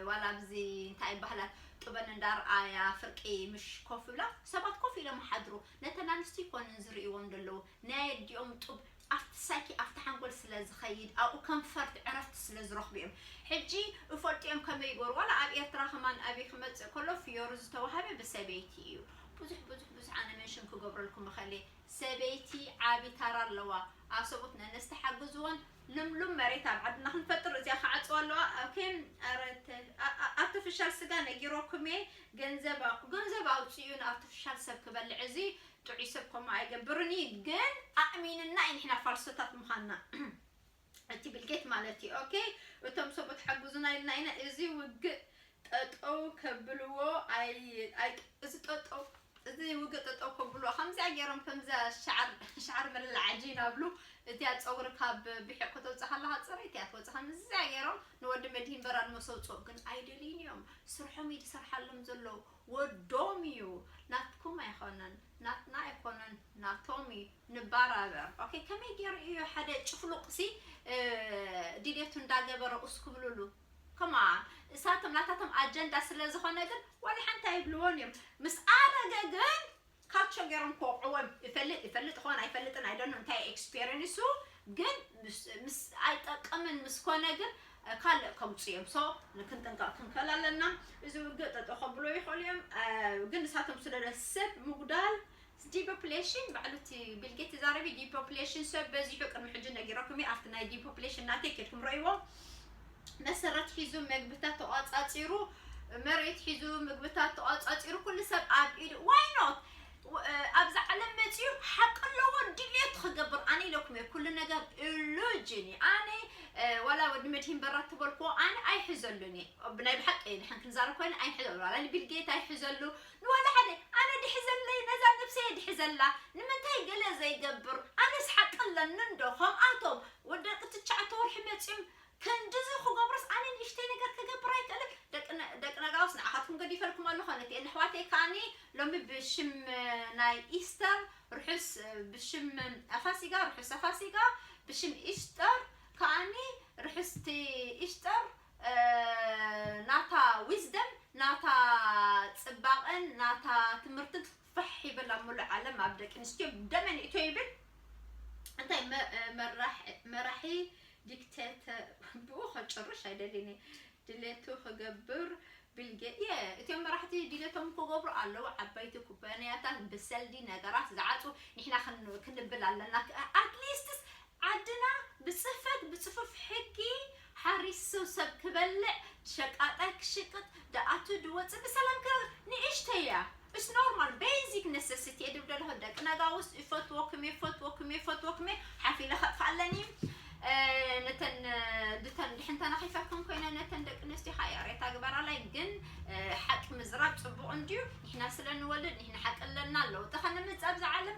ዋላ ኣብዚ እንታይ ባህላት ጥበን እንዳርኣያ ፍርቂ ምሽ ኮፍ ብላ ሰባት ኮፍ ኢሎም ሓድሩ ነተን ኣንስቲ ይኮንን ዝርእይዎም ደለዉ ናይ ኣዲኦም ጡብ ኣፍቲ ሳይኪ ኣፍቲ ሓንጎል ስለ ዝከይድ ኣብኡ ከንፈርት ዕረፍቲ ስለ ዝረክቡ እዮም ሕጂ እፈልጡ እዮም ከመይ ይግበሩ ዋላ ኣብ ኤርትራ ከማን ኣቢይ ክመጽእ ከሎ ፍዮሪ ዝተዋሃበ ብሰበይቲ እዩ ቡዙሕ ቡዙሕ ቡዙሕ ኣነ መንሽን ክገብረልኩም እከል እየ ሰበይቲ ዓቢ ታራ ኣለዋ ኣሰቡት ነነስቲ ሓግዝወን ልምሉም መሬት ኣብ ዓድና ክንፈጥር እዚኣ ክዓጽዋ ኣለዋ ኦኬ ኣረ ኣርቲፊሻል ስጋ ነጊሮኩም እየ ገንዘብ ገንዘብ ኣውጽኡ ንኣርቲፊሻል ሰብ ክበልዕ እዚ ጥዑይ ሰብ ከምኡ ኣይገብርን እዩ ግን ኣእሚንና እዩ ንሕና ፋልሶታት ምዃንና እቲ ቢልጌት ማለት እዩ ኦኬ እቶም ሰብኡት ሓግዙና ኢልና ኢና እዚ ውግእ ጠጠው ከብልዎ እዚ ጠጠው እዚ ውግእ ጠጠው ከብልዎ ከምዚኣ ገይሮም ከምዚያ ሸዓር መለል ዓጂን ኣብሉ እዚኣ ፀጉሪ ካብ ብሒቕ ከተውፅእ ከለካ ፅረይቲ እያ ትወፅእ ከምዚኣ ገይሮም ንወዲ መድሂን በራድ መሰውፅኦ ግን ኣይደልይን እዮም ስርሖም እዩ ዝሰርሓሎም ዘለዉ ወዶም እዩ ናትኩም ኣይኮነን ናትና ኣይኮነን ናቶም እዩ ንባራበር ኦኬ ከመይ ገይሩ እዩ ሓደ ጭፍሉቅ ሲ ድሌቱ እንዳገበረ ኡስ ክብልሉ ከማን እሳቶም ናታቶም ኣጀንዳ ስለ ዝኾነ ግን ዋላ ሓንቲ ኣይብልዎን እዮም ምስ ኣረገ ግን ካቸ ገሮም ክወቅዕዎም ይፈልጥ ይፈልጥ ይኮን ኣይፈልጥን ኣይ ዶንኖ እንታይ ኤክስፔርንሱ ግን ምስ ኣይጠቅምን ምስ ኮነ ግን ካልእ ከምጹ እዮም ሶ ክንጥንቀቅ ክንክእል ኣለና እዚ ውግእ ጠጠው ከብሎ ይክእሉ እዮም ግን ንሳቶም ስለ ሰብ ምጉዳል ዲፖፕሌሽን ባዕሉ እቲ ቢልጌት ዛረቢ ዲፖፕሌሽን ሰብ በዚሑ ቅድሚ ሕጂ ነጊረኩም ኣብቲ ናይ ዲፖፕሌሽን ናተይ ኬድኩም ረእይዎ መሰረት ሒዙ መግብታት ተቋጻጺሩ መሬት ሒዙ ምግብታት ተቋጻጺሩ ኩሉ ሰብ ኣብ ኢዱ ዋይ ኖት ኣብዚ ዓለም መፅኡ ሓቂ ኣለዎ ድልየቱ ክገብር ኣነ ኢለኩም እየ ኩሉ ነገር ኢሉጅን እዩ ኣነ ዋላ ወዲ መድሂን በራ ተበልኮ ኣነ ኣይሕዘሉን እየ ብናይ ብሓቂ እየ ድሓን ክንዛረብ ኮይነ ኣይሕዘሉ ዋላ ንቢልጌት ኣይሕዘሉ ንዋላ ሓደ ኣነ ድሕዘለይ ነዛ ነብሰ እየ ድሕዘላ ንምንታይ ገለ ዘይገብር ኣነስ ሓቂ ኣለኒ እንዶ ከምኣቶም ወደቂ ትሽዓተ ወርሒ መፅኦም ክንድዚ ክገብሮስ ኣነ ንእሽተይ ነገር ክገብር ኣይክእልን ደቂ ደቂ ነጋውስ ንዓኻትኩም ገዲፈልኩም ኣለኹ ነቲኤን ኣሕዋተይ ከኣኒ ሎሚ ብሽም ናይ ኢስተር ርሑስ ብሽም ኣፋሲጋ ርሑስ ኣፋሲጋ ብሽም ኢስተር ከኣኒ ርሑስቲ ኢስተር ናታ ዊዝደም ናታ ጽባቐን ናታ ትምህርትን ፋሕ ይበል ኣብ ምሉእ ዓለም ኣብ ደቂ ኣንስትዮ ደመን ይእቶ ይብል እንታይ መራሒ ዲክቴተ ብኡ ከጭርሽ ኣይደሊኒ ድሌቱ ክገብር ቢልጌ የ እቲኦም መራሕቲ ድሌቶም ክገብሩ ኣለዉ ዓበይቲ ኩባንያታት ብሰልዲ ነገራት ዝዓፁ ንሕና ክንብል ኣለና ኣትሊስትስ ዓድና ብፅፈት ብፅፉፍ ሕጊ ሓሪሱ ሰብ ክበልዕ ሸቃጣይ ክሽቅጥ ድኣቱ ድወጽእ ብሰላም ከ ንእሽተይ እያ እስ ኖርማል በይዚክ ነሰሲቲ እየ ድብል ደለኹ ደቂ ነጋውስ ይፈትዎኩም እየ ይፈትዎኩም እየ ይፈትዎኩም እየ ሓፍ ኢለ ከጥፋእ ኣለኒ ነተን ድተን ድሕን ተናኺፈክን ኮይነ ነተን ደቂ ኣንስትዮ ከዓ ያሬታ ግበራላይ ግን ሓቂ ምዝራብ ፅቡቅ እንድዩ ንሕና ስለ ንወልድ ንሕና ሓቂ ኣለና ለውጢ ከነምፅእ ኣብዚ ዓለም